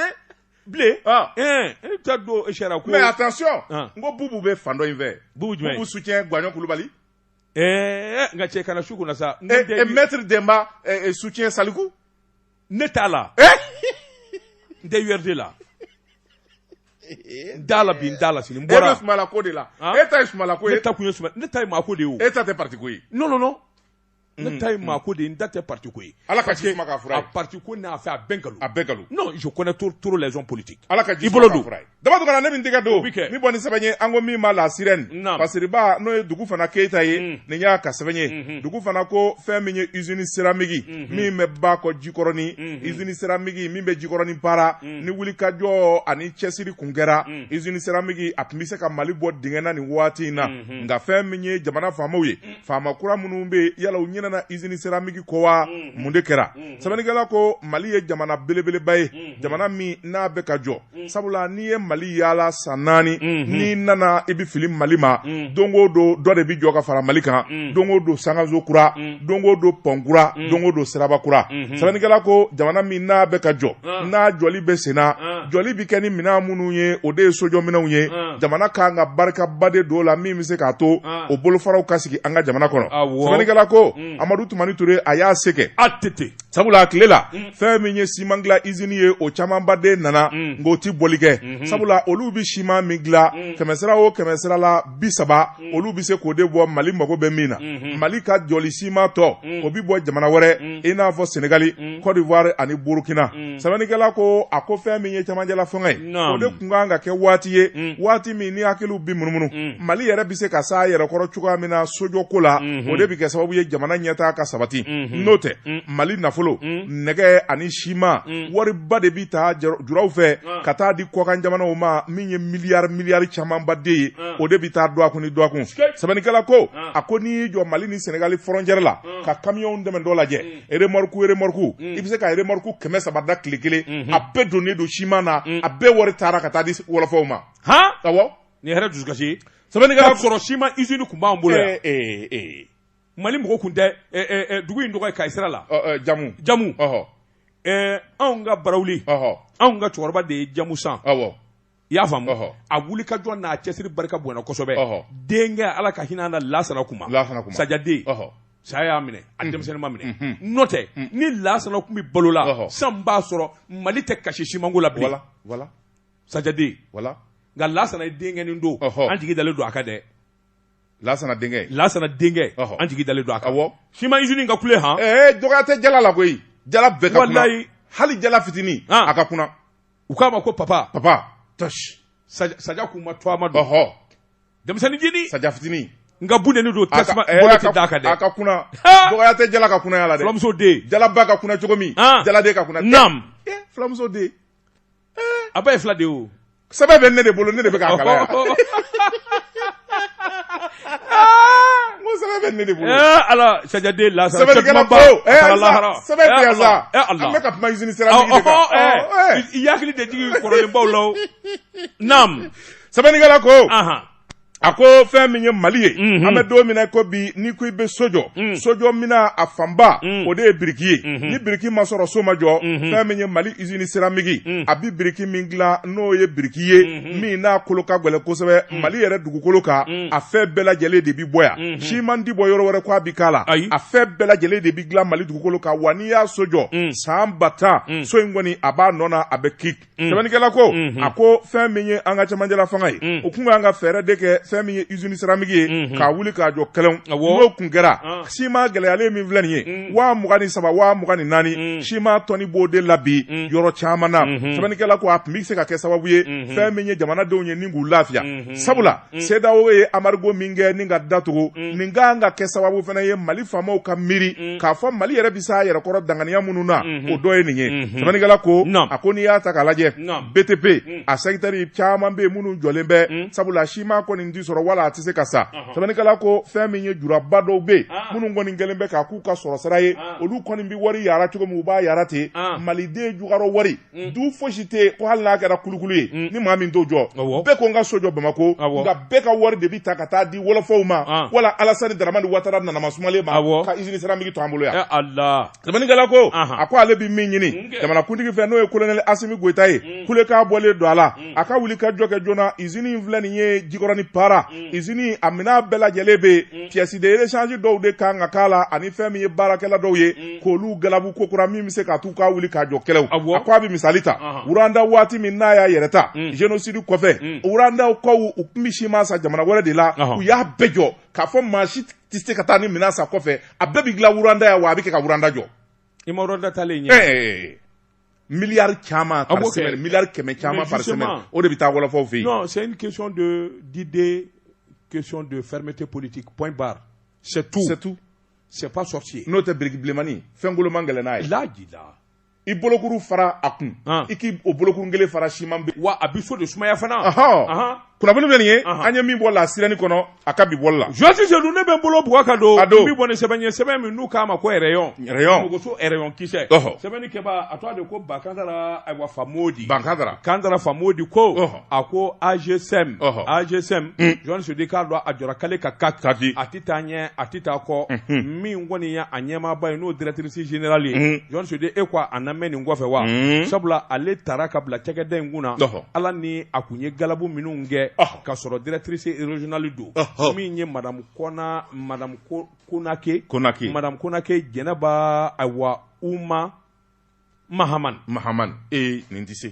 [SPEAKER 2] bilen ah. eh, e bɛ taa don sariya ko mais attention ah. n
[SPEAKER 3] ko Boubou bɛ fan dɔ in fɛ Boubou jumɛn Boubou soutient Guagnon Coulibaly
[SPEAKER 2] ɛɛ nka cɛ kana su kunna sa. ne den bi- mɛtiri
[SPEAKER 3] denba soutient saliku. ne t'a
[SPEAKER 2] la. n tɛ URD la. n t'a la bi n t'a la sini ne bɔra. bɛ sumala ko de
[SPEAKER 3] la. Han? e ta ye sumala ko ye. ne ta kun ye suma ne ta ye
[SPEAKER 2] maa ko de ye o. e ta tɛ paritiko ye. non
[SPEAKER 3] non non
[SPEAKER 2] ne mm, ta ye mm. maa ko de ye n ta tɛ parti ko ye ala ka ji suma k'a fura ye
[SPEAKER 3] a parti ko n'a
[SPEAKER 2] fɛ
[SPEAKER 3] a
[SPEAKER 2] bɛɛ nkalon a bɛɛ nkalon non je connais trop trop les hommes politiques ala ka ji suma k'a fura
[SPEAKER 3] ye daba dɔgɔna ne min tɛgɛ don min bɔ ni sɛbɛn ye an ko min ma la sirène basiriba n'o ye dugufana keyita ye mm. nin y'a ka sɛbɛn ye mm-hmm. dugufana ko fɛn min ye usine seramigi mm-hmm. min bɛ ba kɔ jikɔrɔni mm-hmm. usine seramigi min bɛ jikɔrɔni para mm. ni wulikajɔ ani cɛsiri kun kɛra mm. usine seramigi a tun bɛ se ka mali bɔ dingɛ na nin waati in na nka fɛn min ye jamana faamaw ye faama kura minnu bɛ yen yala u ɲinɛna izini seramiki kɔ wa mm-hmm. mun de kɛra mm-hmm. sɛbɛnnikɛla ko mali ye jamana belebeleba ye mm-hmm. jamana min n'a bɛ ka jɔ sabula n'i ye mali yaala san naani n'i nana i bɛ fili mali ma don o don dɔ de bɛ jɔ ka fara mali kan don o don sankanso kura don o don pɔn kura don o don siraba kura sɛbɛnnikɛla ko jamana min n'a bɛ ka jɔ ah. n'a jɔli bɛ sen na ah. jɔli bɛ kɛ ni minɛn minnu ye o de ye sojɔminɛnw ye ah. jamana ka kan ka barikaba de don o la min bɛ se k'a to o bolofaraw ka sigi an ka jamana kɔnɔ sɛbɛnnikɛla ko mm. amadu tumani ture a y'a se kɛ ATT sabula a tile la mm. fɛn min ye siman dilan izini ye o camanba de nana mm. nka o tɛ bɔli kɛ mm-hmm. sabula olu bɛ siman min dilan mm. kɛmɛsira o kɛmɛsira la bi saba mm. olu bɛ se k'o de bɔ mali mago bɛ min na mm-hmm. mali ka jɔli siman tɔ mm. o bɛ bɔ jamana wɛrɛ mm. i n'a fɔ senegali mm. cote d'ivoire ani burukina mm. sɛbɛnnikɛla ko a ko fɛn min ye cɛmancɛla fanga ye o de tun kan ka kɛ waati ye mm. waati min ni hakiliw bi munumunu mm. mali yɛrɛ bɛ se ka se a yɛrɛ kɔrɔ cogoya min na sojɔ ko la mm-hmm. o de bɛ kɛ sababu ye jamana ɲɛtaa ka sabati mm-hmm. n'o tɛ mm. mali nafolo nɛgɛ ani siman wariba de bɛ taa juraw fɛ ah. ka taa di kɔkan jamanaw ma min ye miliyari miliyari camanba de ye ah. o de bɛ taa dɔgɔkun ni dɔgɔkun sɛbɛnnikɛla ko ah. a ko n'i y'i jɔ mali ni sɛnɛgali fɔrɔncɛri la ka kamiyɔnw tɛmɛtɔ lajɛ remorque remorque mm. i bɛ se ka remorque kɛmɛ saba dan tile kelen mm-hmm. a bɛɛ donnen don siman na mm. a bɛɛ wari taara ka taa di wɔlɔfɔw ma han awɔ nin kɛra dusukasi ye
[SPEAKER 2] sɛbɛnnikɛla sɔrɔ
[SPEAKER 3] siman usine
[SPEAKER 2] tun b'an bolo yan eh, eh, eh. mali mɔgɔ kun tɛ dugu in tɔgɔ ye kayi sira la jamu jamu anw ka barawuli anw ka cɛkɔrɔba de ye jamu san awɔ i y'a faamu ɔhɔ. a wulikajɔ n'a cɛsiri barika bonyana kosɛbɛ Ɔhɔ. denkɛ ala ka hinɛ a na lasana kuma lasana kuma. sajaden Ɔhɔ. saya y'a minɛ a denmisɛnninma minɛ Mhm. n'o tɛ ni lasana tun bɛ balo la Ɔhɔ. san b'a sɔrɔ mali tɛ kasi simanko la bilen wala wala sajaden wala nka lasana ye denkɛnin don Ɔhɔ. an jigi dalen don a kan dɛ
[SPEAKER 3] lasana denkɛ lasana denkɛ Ɔhɔ. an jigi dalen don a kan awɔ siman izini ka kule
[SPEAKER 2] han ee dɔgɔya tɛ jala la
[SPEAKER 3] koyi jala bɛɛ ka kuna Walayi. hali jala fitinin Ah. a ka kuna u k'a ma ko
[SPEAKER 2] papa papa tɔsi saja k'u ma to a ma don ɔhɔ denmisɛnnin jini saja fitini nka
[SPEAKER 3] bunteni don
[SPEAKER 2] tasuma bolo tɛ d'a kan dɛ a ka kuna
[SPEAKER 3] dɔgɔya tɛ jala ka kunaya la dɛ fulamuso den jalaba
[SPEAKER 2] ka kuna cogo
[SPEAKER 3] min jaladen ka kuna nam
[SPEAKER 2] fulamuso
[SPEAKER 3] den a
[SPEAKER 2] ba ye fila de ye o sɛbɛn bɛ ne de
[SPEAKER 3] bolo ne de bɛ k'a kalan yan Hakili
[SPEAKER 2] sɛbɛnnikɛla
[SPEAKER 3] ko a ko fɛn min ye mali ye an bɛ don min na ko bi n'i ko i bɛ so jɔ sojɔ minɛn a fanba o de ye biriki ye ni biriki ma sɔrɔ so ma jɔ fɛn min ye mali izini siramiki a bɛ biriki min dilan n'o ye biriki ye mm. min n'a kolo ka gɛlɛn kosɛbɛ mm. mali yɛrɛ dugukolo kan mm. a fɛn bɛɛ lajɛlen de bi bɔ yan mm-hmm. siman ti bɔ yɔrɔ wɛrɛ ko a bi k'a la a fɛn bɛɛ lajɛlen de bi dilan mali dugukolo kan wa n'i y'a so jɔ mm. san ba tan mm. so in kɔni a b'a nɔ na a bɛ kik mm. sɛbɛnnikɛla ko mm-hmm. a ko fɛn min ye an ka cɛmancɛla fanga ye mm. o kun ka kan ka fɛɛrɛ de kɛ fɛn min ye usine siramiki ye mm-hmm. k'a wuli k'a jɔ kɛlɛw n'o kun kɛra ah. siman gɛlɛyalen min filɛ nin ye mm. waa mugan ni saba waa mugan ni naani mm. siman tɔni b'o de la bi mm. yɔrɔ caman na mm-hmm. sɛbɛnnikɛla ko a tun bɛ se ka kɛ sababu ye mm-hmm. fɛn min ye jamanadenw ye ni k'u lafiya mm-hmm. sabula sedawo ye anbarigo min kɛ ni ka datugu nin ka kan ka kɛ sababu fana ye mali faamaw ka miiri k'a fɔ mali yɛrɛ bɛ s'a yɛrɛ kɔrɔ danganiya minnu na o dɔ ye nin ye sɛbɛnnikɛla ko a ko n'i y'a ta k'a lajɛ btp a sɛkitɛri caman bɛ yen minnu jɔlen bɛ sabula siman kɔni tɛ sɔrɔ wala a tɛ se ka san sɛbɛnnikɛla ko fɛn min ye juraba dɔw bɛ yen ah. minnu kɔni kɛlen bɛ k'a k'u ka sɔrɔ sira ye ah. olu kɔni bɛ wari yara cogo min u b'a yara ten ah. maliden jukɔrɔ wari mm. du fosi tɛ yen ko hali n'a kɛra kulukulu ye mm. ni maa min t'o jɔ bɛɛ ko n ka so jɔ bamako nka bɛɛ ka wari de bɛ ta ka taa di wɔlɔfɔw ma wala alasani daramani watara nanama sumalen ma ka izini siramiki to an bolo yan. Eh, sɛbɛnnikɛla ko a ko ale bɛ min ɲini jamanakuntigi fɛ n'o ye kolonɛli asimi goyita ye mm. kulekan bɔlen don a la mm. a ka wuli ka jɔ kɛ joona izini in filɛ nin ye jikɔrɔni para mm. izini a minɛn bɛɛ lajɛlen bɛ yen pièces de rechange dɔw de kan ka k'a la ani fɛn min ye baarakɛla dɔw ye k'olu galabu kokura min bɛ se ka t'u ka wuli ka jɔ kɛlɛw a ko a bɛ misali ta wuranda waati min n'a y'a yɛrɛ ta zenosidi kɔfɛ wurandakaw u tun bɛ siman san jamana wɛrɛ de la u y'a bɛɛ jɔ k'a fɔ maa si tɛ se ka taa ni minɛn san kɔfɛ a bɛɛ bɛ dilan wuranda yan wa a bɛ kɛ ka wuranda jɔ i ma wuranda
[SPEAKER 2] taalen ɲɛ miliyari
[SPEAKER 3] caman par semaine miliyari kɛmɛ caman par semaine o de bɛ taa wɔlɔfɔw fɛ yen non c'est une question
[SPEAKER 2] de d'idée question de fermeté politique point barre c'est tout c'est tout c'est pas sorcier n'o tɛ biriki bilenmani
[SPEAKER 3] fɛn koloma gɛlɛn n'a ye laji la
[SPEAKER 2] i
[SPEAKER 3] bolokuru fara a kun i k' o bolokuru kelen fara siman bɛ wa a bɛ so de sumaya
[SPEAKER 2] fana kunnafoni
[SPEAKER 3] filɛ nin ye an ye min bɔ la sirène kɔnɔ a ka bi bɔli la jɔn sedu ne bɛ n bolo
[SPEAKER 2] bugɔ ka don n bɛ bɔ ni sɛbɛn ye sɛbɛn min n'u k'a ma ko rayon muguso rayon kisɛ sɛbɛnnikɛba a tɔgɔ de ko ba kandara ayiwa famodi ba kandara famodi ko a ko angesem angesem jɔn sedu i k'a dɔn a jɔra kale ka ka a tɛ taa ɲɛ a tɛ taa kɔ min kɔni ye a ɲɛmaaba ye n'o directrice générale ye jɔn sedu e ko a na mɛn nin kɔfɛ wa sabula ale tara ka bila cakɛda in kun na ala ni a kun ye galabu minnu kɛ ka sɔrɔ directrice régionale don min ye madamu madamu konake jɛnɛba
[SPEAKER 3] ayiwa
[SPEAKER 2] uma mahaman
[SPEAKER 3] mahaman
[SPEAKER 2] ee nin tɛ se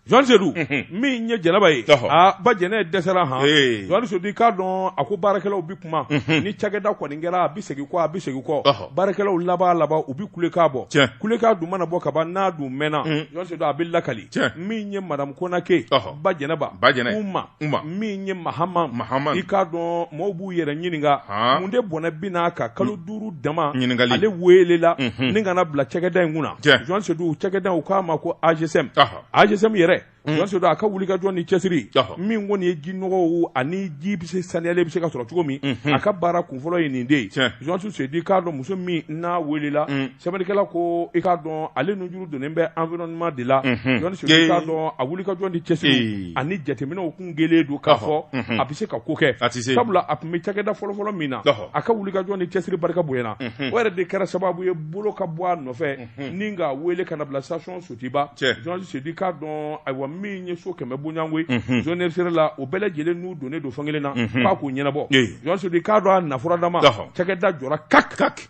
[SPEAKER 2] jɔn sedu min ye jɛnɛba ye aa ba jɛnɛ dɛsɛra han jɔn sedu i k'a dɔn a ko baarakɛlaw bɛ kuma ni cakɛda kɔni kɛra a bɛ segin kɔ a bɛ segin kɔ baarakɛlaw laban laban u bɛ kulekan bɔ kulekan dun mana bɔ ka ban n'a dun mɛnna jɔn sedu a bɛ lakali min ye madamu konake ba jɛnɛba uma min ye mahama mahama i k'a dɔn maaw b'u yɛrɛ ɲininka mun de bɔnɛ bi n'a kan kalo mm. duuru dama ɲininkali ale weelela mm-hmm. ni ka na bila cakɛda in kunna jɔn sedu cakɛda u k'a ma ko angesem angesem yɛrɛ mm. jɔn sedu a ka wulikajɔ ni cɛsiri min kɔni ye ji nɔgɔw ani ji bɛ se saniyalen bɛ se ka sɔrɔ cogo min mm-hmm. a ka baara kunfɔlɔ ye nin de ye jɔn sedu k'a dɔn muso min n'a weelela mm. sɛbɛnnikɛla ko i k'a dɔn ale nujuru donnen bɛ environnement de la jɔn sedu i k'a dɔn a wulikajɔ ni cɛsiri ani jateminɛw kun kɛlen don k'a fɔ a bɛ se ka ko kɛ sabula a tun bɛ cakɛda fɔlɔfɔlɔ min na a ka wulikajɔ ni cɛsiri barika bonyana o yɛrɛ de kɛra sababu ye bolo ka bɔ a nɔfɛ ni ka wele ka na bila station sotuba jɔn sedu i k'a dɔn ayiwa min ye so kɛmɛ bonyayanko zone sera la o bɛɛ lajɛlen n'u donnen don fan kelen na k'a k'u ɲɛnabɔ jɔn sedu i k'a dɔn a nafuradama cakɛda jɔra ka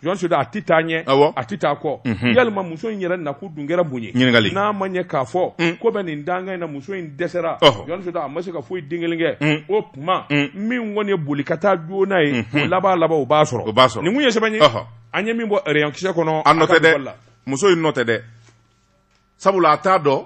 [SPEAKER 2] jɔn sedu a tɛ taa ɲɛ awɔ. a tɛ taa kɔ Mhm. yalima muso in yɛrɛ nakun dun kɛra mun ye Ɲininkali. n'a ma ɲɛ k'a fɔ Mm. ko bɛ nin danga in na muso in dɛsɛra Ɔhɔ. jɔn sedu a ma se ka foyi den kelen kɛ Mm. o tuma Mm. min kɔni ye boli ka taa joona ye Mhm. o laban laban o b'a sɔrɔ O b'a sɔrɔ. nin kun ye sɛbɛn ye Ɔhɔ. an ye min bɔ rayon kisɛ kɔnɔ a nɔ tɛ dɛ mɔgɔ la.
[SPEAKER 3] muso in nɔ tɛ dɛ sabula a t'a dɔn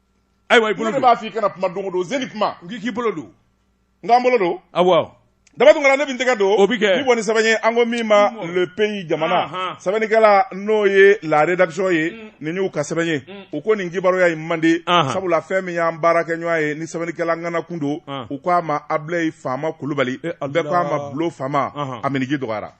[SPEAKER 3] ayiwa i
[SPEAKER 2] bolo don b'a f'i kana kuma don o
[SPEAKER 3] don zeni kuma n k'i bolo
[SPEAKER 2] don n k'an bolo
[SPEAKER 3] don
[SPEAKER 2] awɔ daba tun kana ne bi
[SPEAKER 3] n tɛgɛ don o bi kɛ n bi bɔ ni sɛbɛn ye
[SPEAKER 2] an ko
[SPEAKER 3] min ma le pays jamana sɛbɛnnikɛla n'o ye la rédaction ye mm. nin y'u ka sɛbɛn ye mm. u ko nin kibaruya ye mande sabula fɛn min y'an baarakɛɲɔgɔn ye ni sɛbɛnnikɛla ŋana kun don u ko a ma ablayi faama kulubali eh, bɛɛ ko a ma bulo faama a minniji dɔgɔyara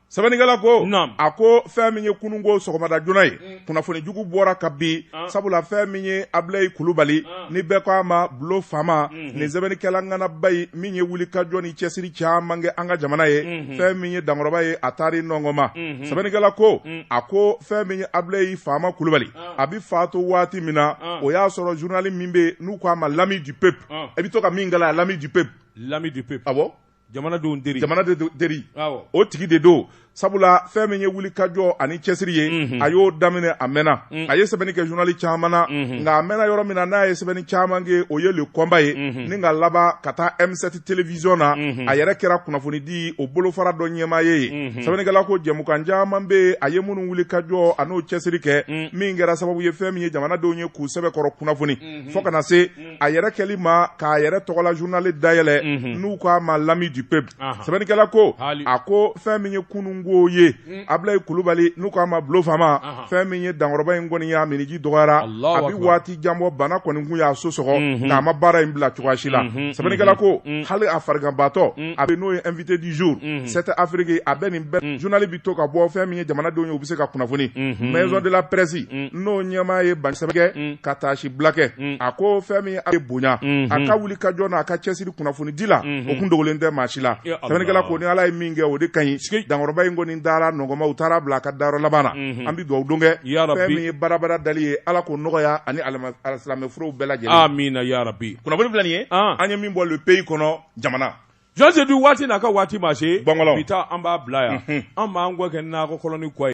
[SPEAKER 3] sɛbɛnnikɛla ko a ko fɛn min ye kununko sɔgɔmada joona ye mm. kunnafoni jugu bɔra ka bi ah. sabula fɛn min ye abilayi kulubali ah. ni bɛɛ ko a ma bulo faama mm-hmm. nin sɛbɛnnikɛla ŋanaba ye min ye wuli ka jɔ ni cɛsiri caman kɛ an ka jamana ye mm-hmm. fɛn min ye dankɔrɔba ye a taari nɔgɔ ma mm-hmm. sɛbɛnnikɛla ko mm. a ko fɛn min ye abilayi faama kulubali ah. a bɛ faatu waati min na o y'a sɔrɔ zurunali min bɛ n'u ko a ma l'ami du peuple i bɛ to ka min kalan l'ami du peuple l'ami du peuple jamanadenw
[SPEAKER 2] teri jamanaden teri Awɔ. o tigi de
[SPEAKER 3] don sabula fɛn min ye wuli ka jɔ ani cɛsiri ye Mhm. a y'o daminɛ a mɛnna Mm. a ye sɛbɛnni kɛ journali caman na Mhm. nka a mɛnna yɔrɔ min na n'a ye sɛbɛnni caman kɛ o ye le combat ye Mhm. ni ka laban ka taa m7 télévision na Mhm. a yɛrɛ kɛra kunnafonidi o bolofara dɔ ɲɛmaa ye yen Mhm. sɛbɛnnikɛla ko jɛmukan caman bɛ yen a ye minnu wuli ka jɔ an'o cɛsiri kɛ Mm. min kɛra sababu ye fɛn min ye jamanadenw ye k'u sɛbɛkɔrɔ kunnafoni Mhm. fo ka na se a yɛrɛ kɛli ma k'a yɛrɛ tɔgɔla journal dayɛlɛ n'u k'a ma l'ami du peuple sɛbɛnnikɛla ko a ko fɛn min ye kununko ye abilayi kulubali n'u k'a ma bulo faama fɛn min ye dankɔrɔba in kɔni y'a minniji dɔgɔyara a bɛ waati jan bɔ bana kɔni kun y'a so sɔgɔ nka a ma baara in bila cogoya si la sɛbɛnnikɛla ko hali a fariganbatɔ a bɛ n'o ye invité du jour sept afrique a bɛ nin bɛɛ journal to ka bɔ fɛn min ye jamanadenw ye u bɛ se ka kunnafoni maison de la presse n'o ɲɛmaa ye bakɛ ka taasibila kɛ a ko fɛn min ye bonya a ka wuli ka jɔ n'a ka cɛsiri kunnafoni di la o kun dogolen tɛ maa si la sɛbɛnnikɛla ko ni ala ye min kɛ o de ka ɲi dankɔrɔba in kɔni dara nɔgɔ ma u taar'a bila a ka dayɔrɔ laban na an bɛ dugawudon kɛ fɛn min ye barabara dali ye ala k'o nɔgɔya ani alisilamɛ furew bɛɛ lajɛlen amina yarabi
[SPEAKER 2] kunnafoni filɛ nin ye
[SPEAKER 3] an ye min bɔ le pays kɔnɔ jamana Jɔn si tɛ
[SPEAKER 2] faatu n'a ka waati ma se, Bɔkɔlaw, bi ta an b'a bila yan, unhun, an b'an kɔ kɛ nakɔ kɔlɔni kɔ ye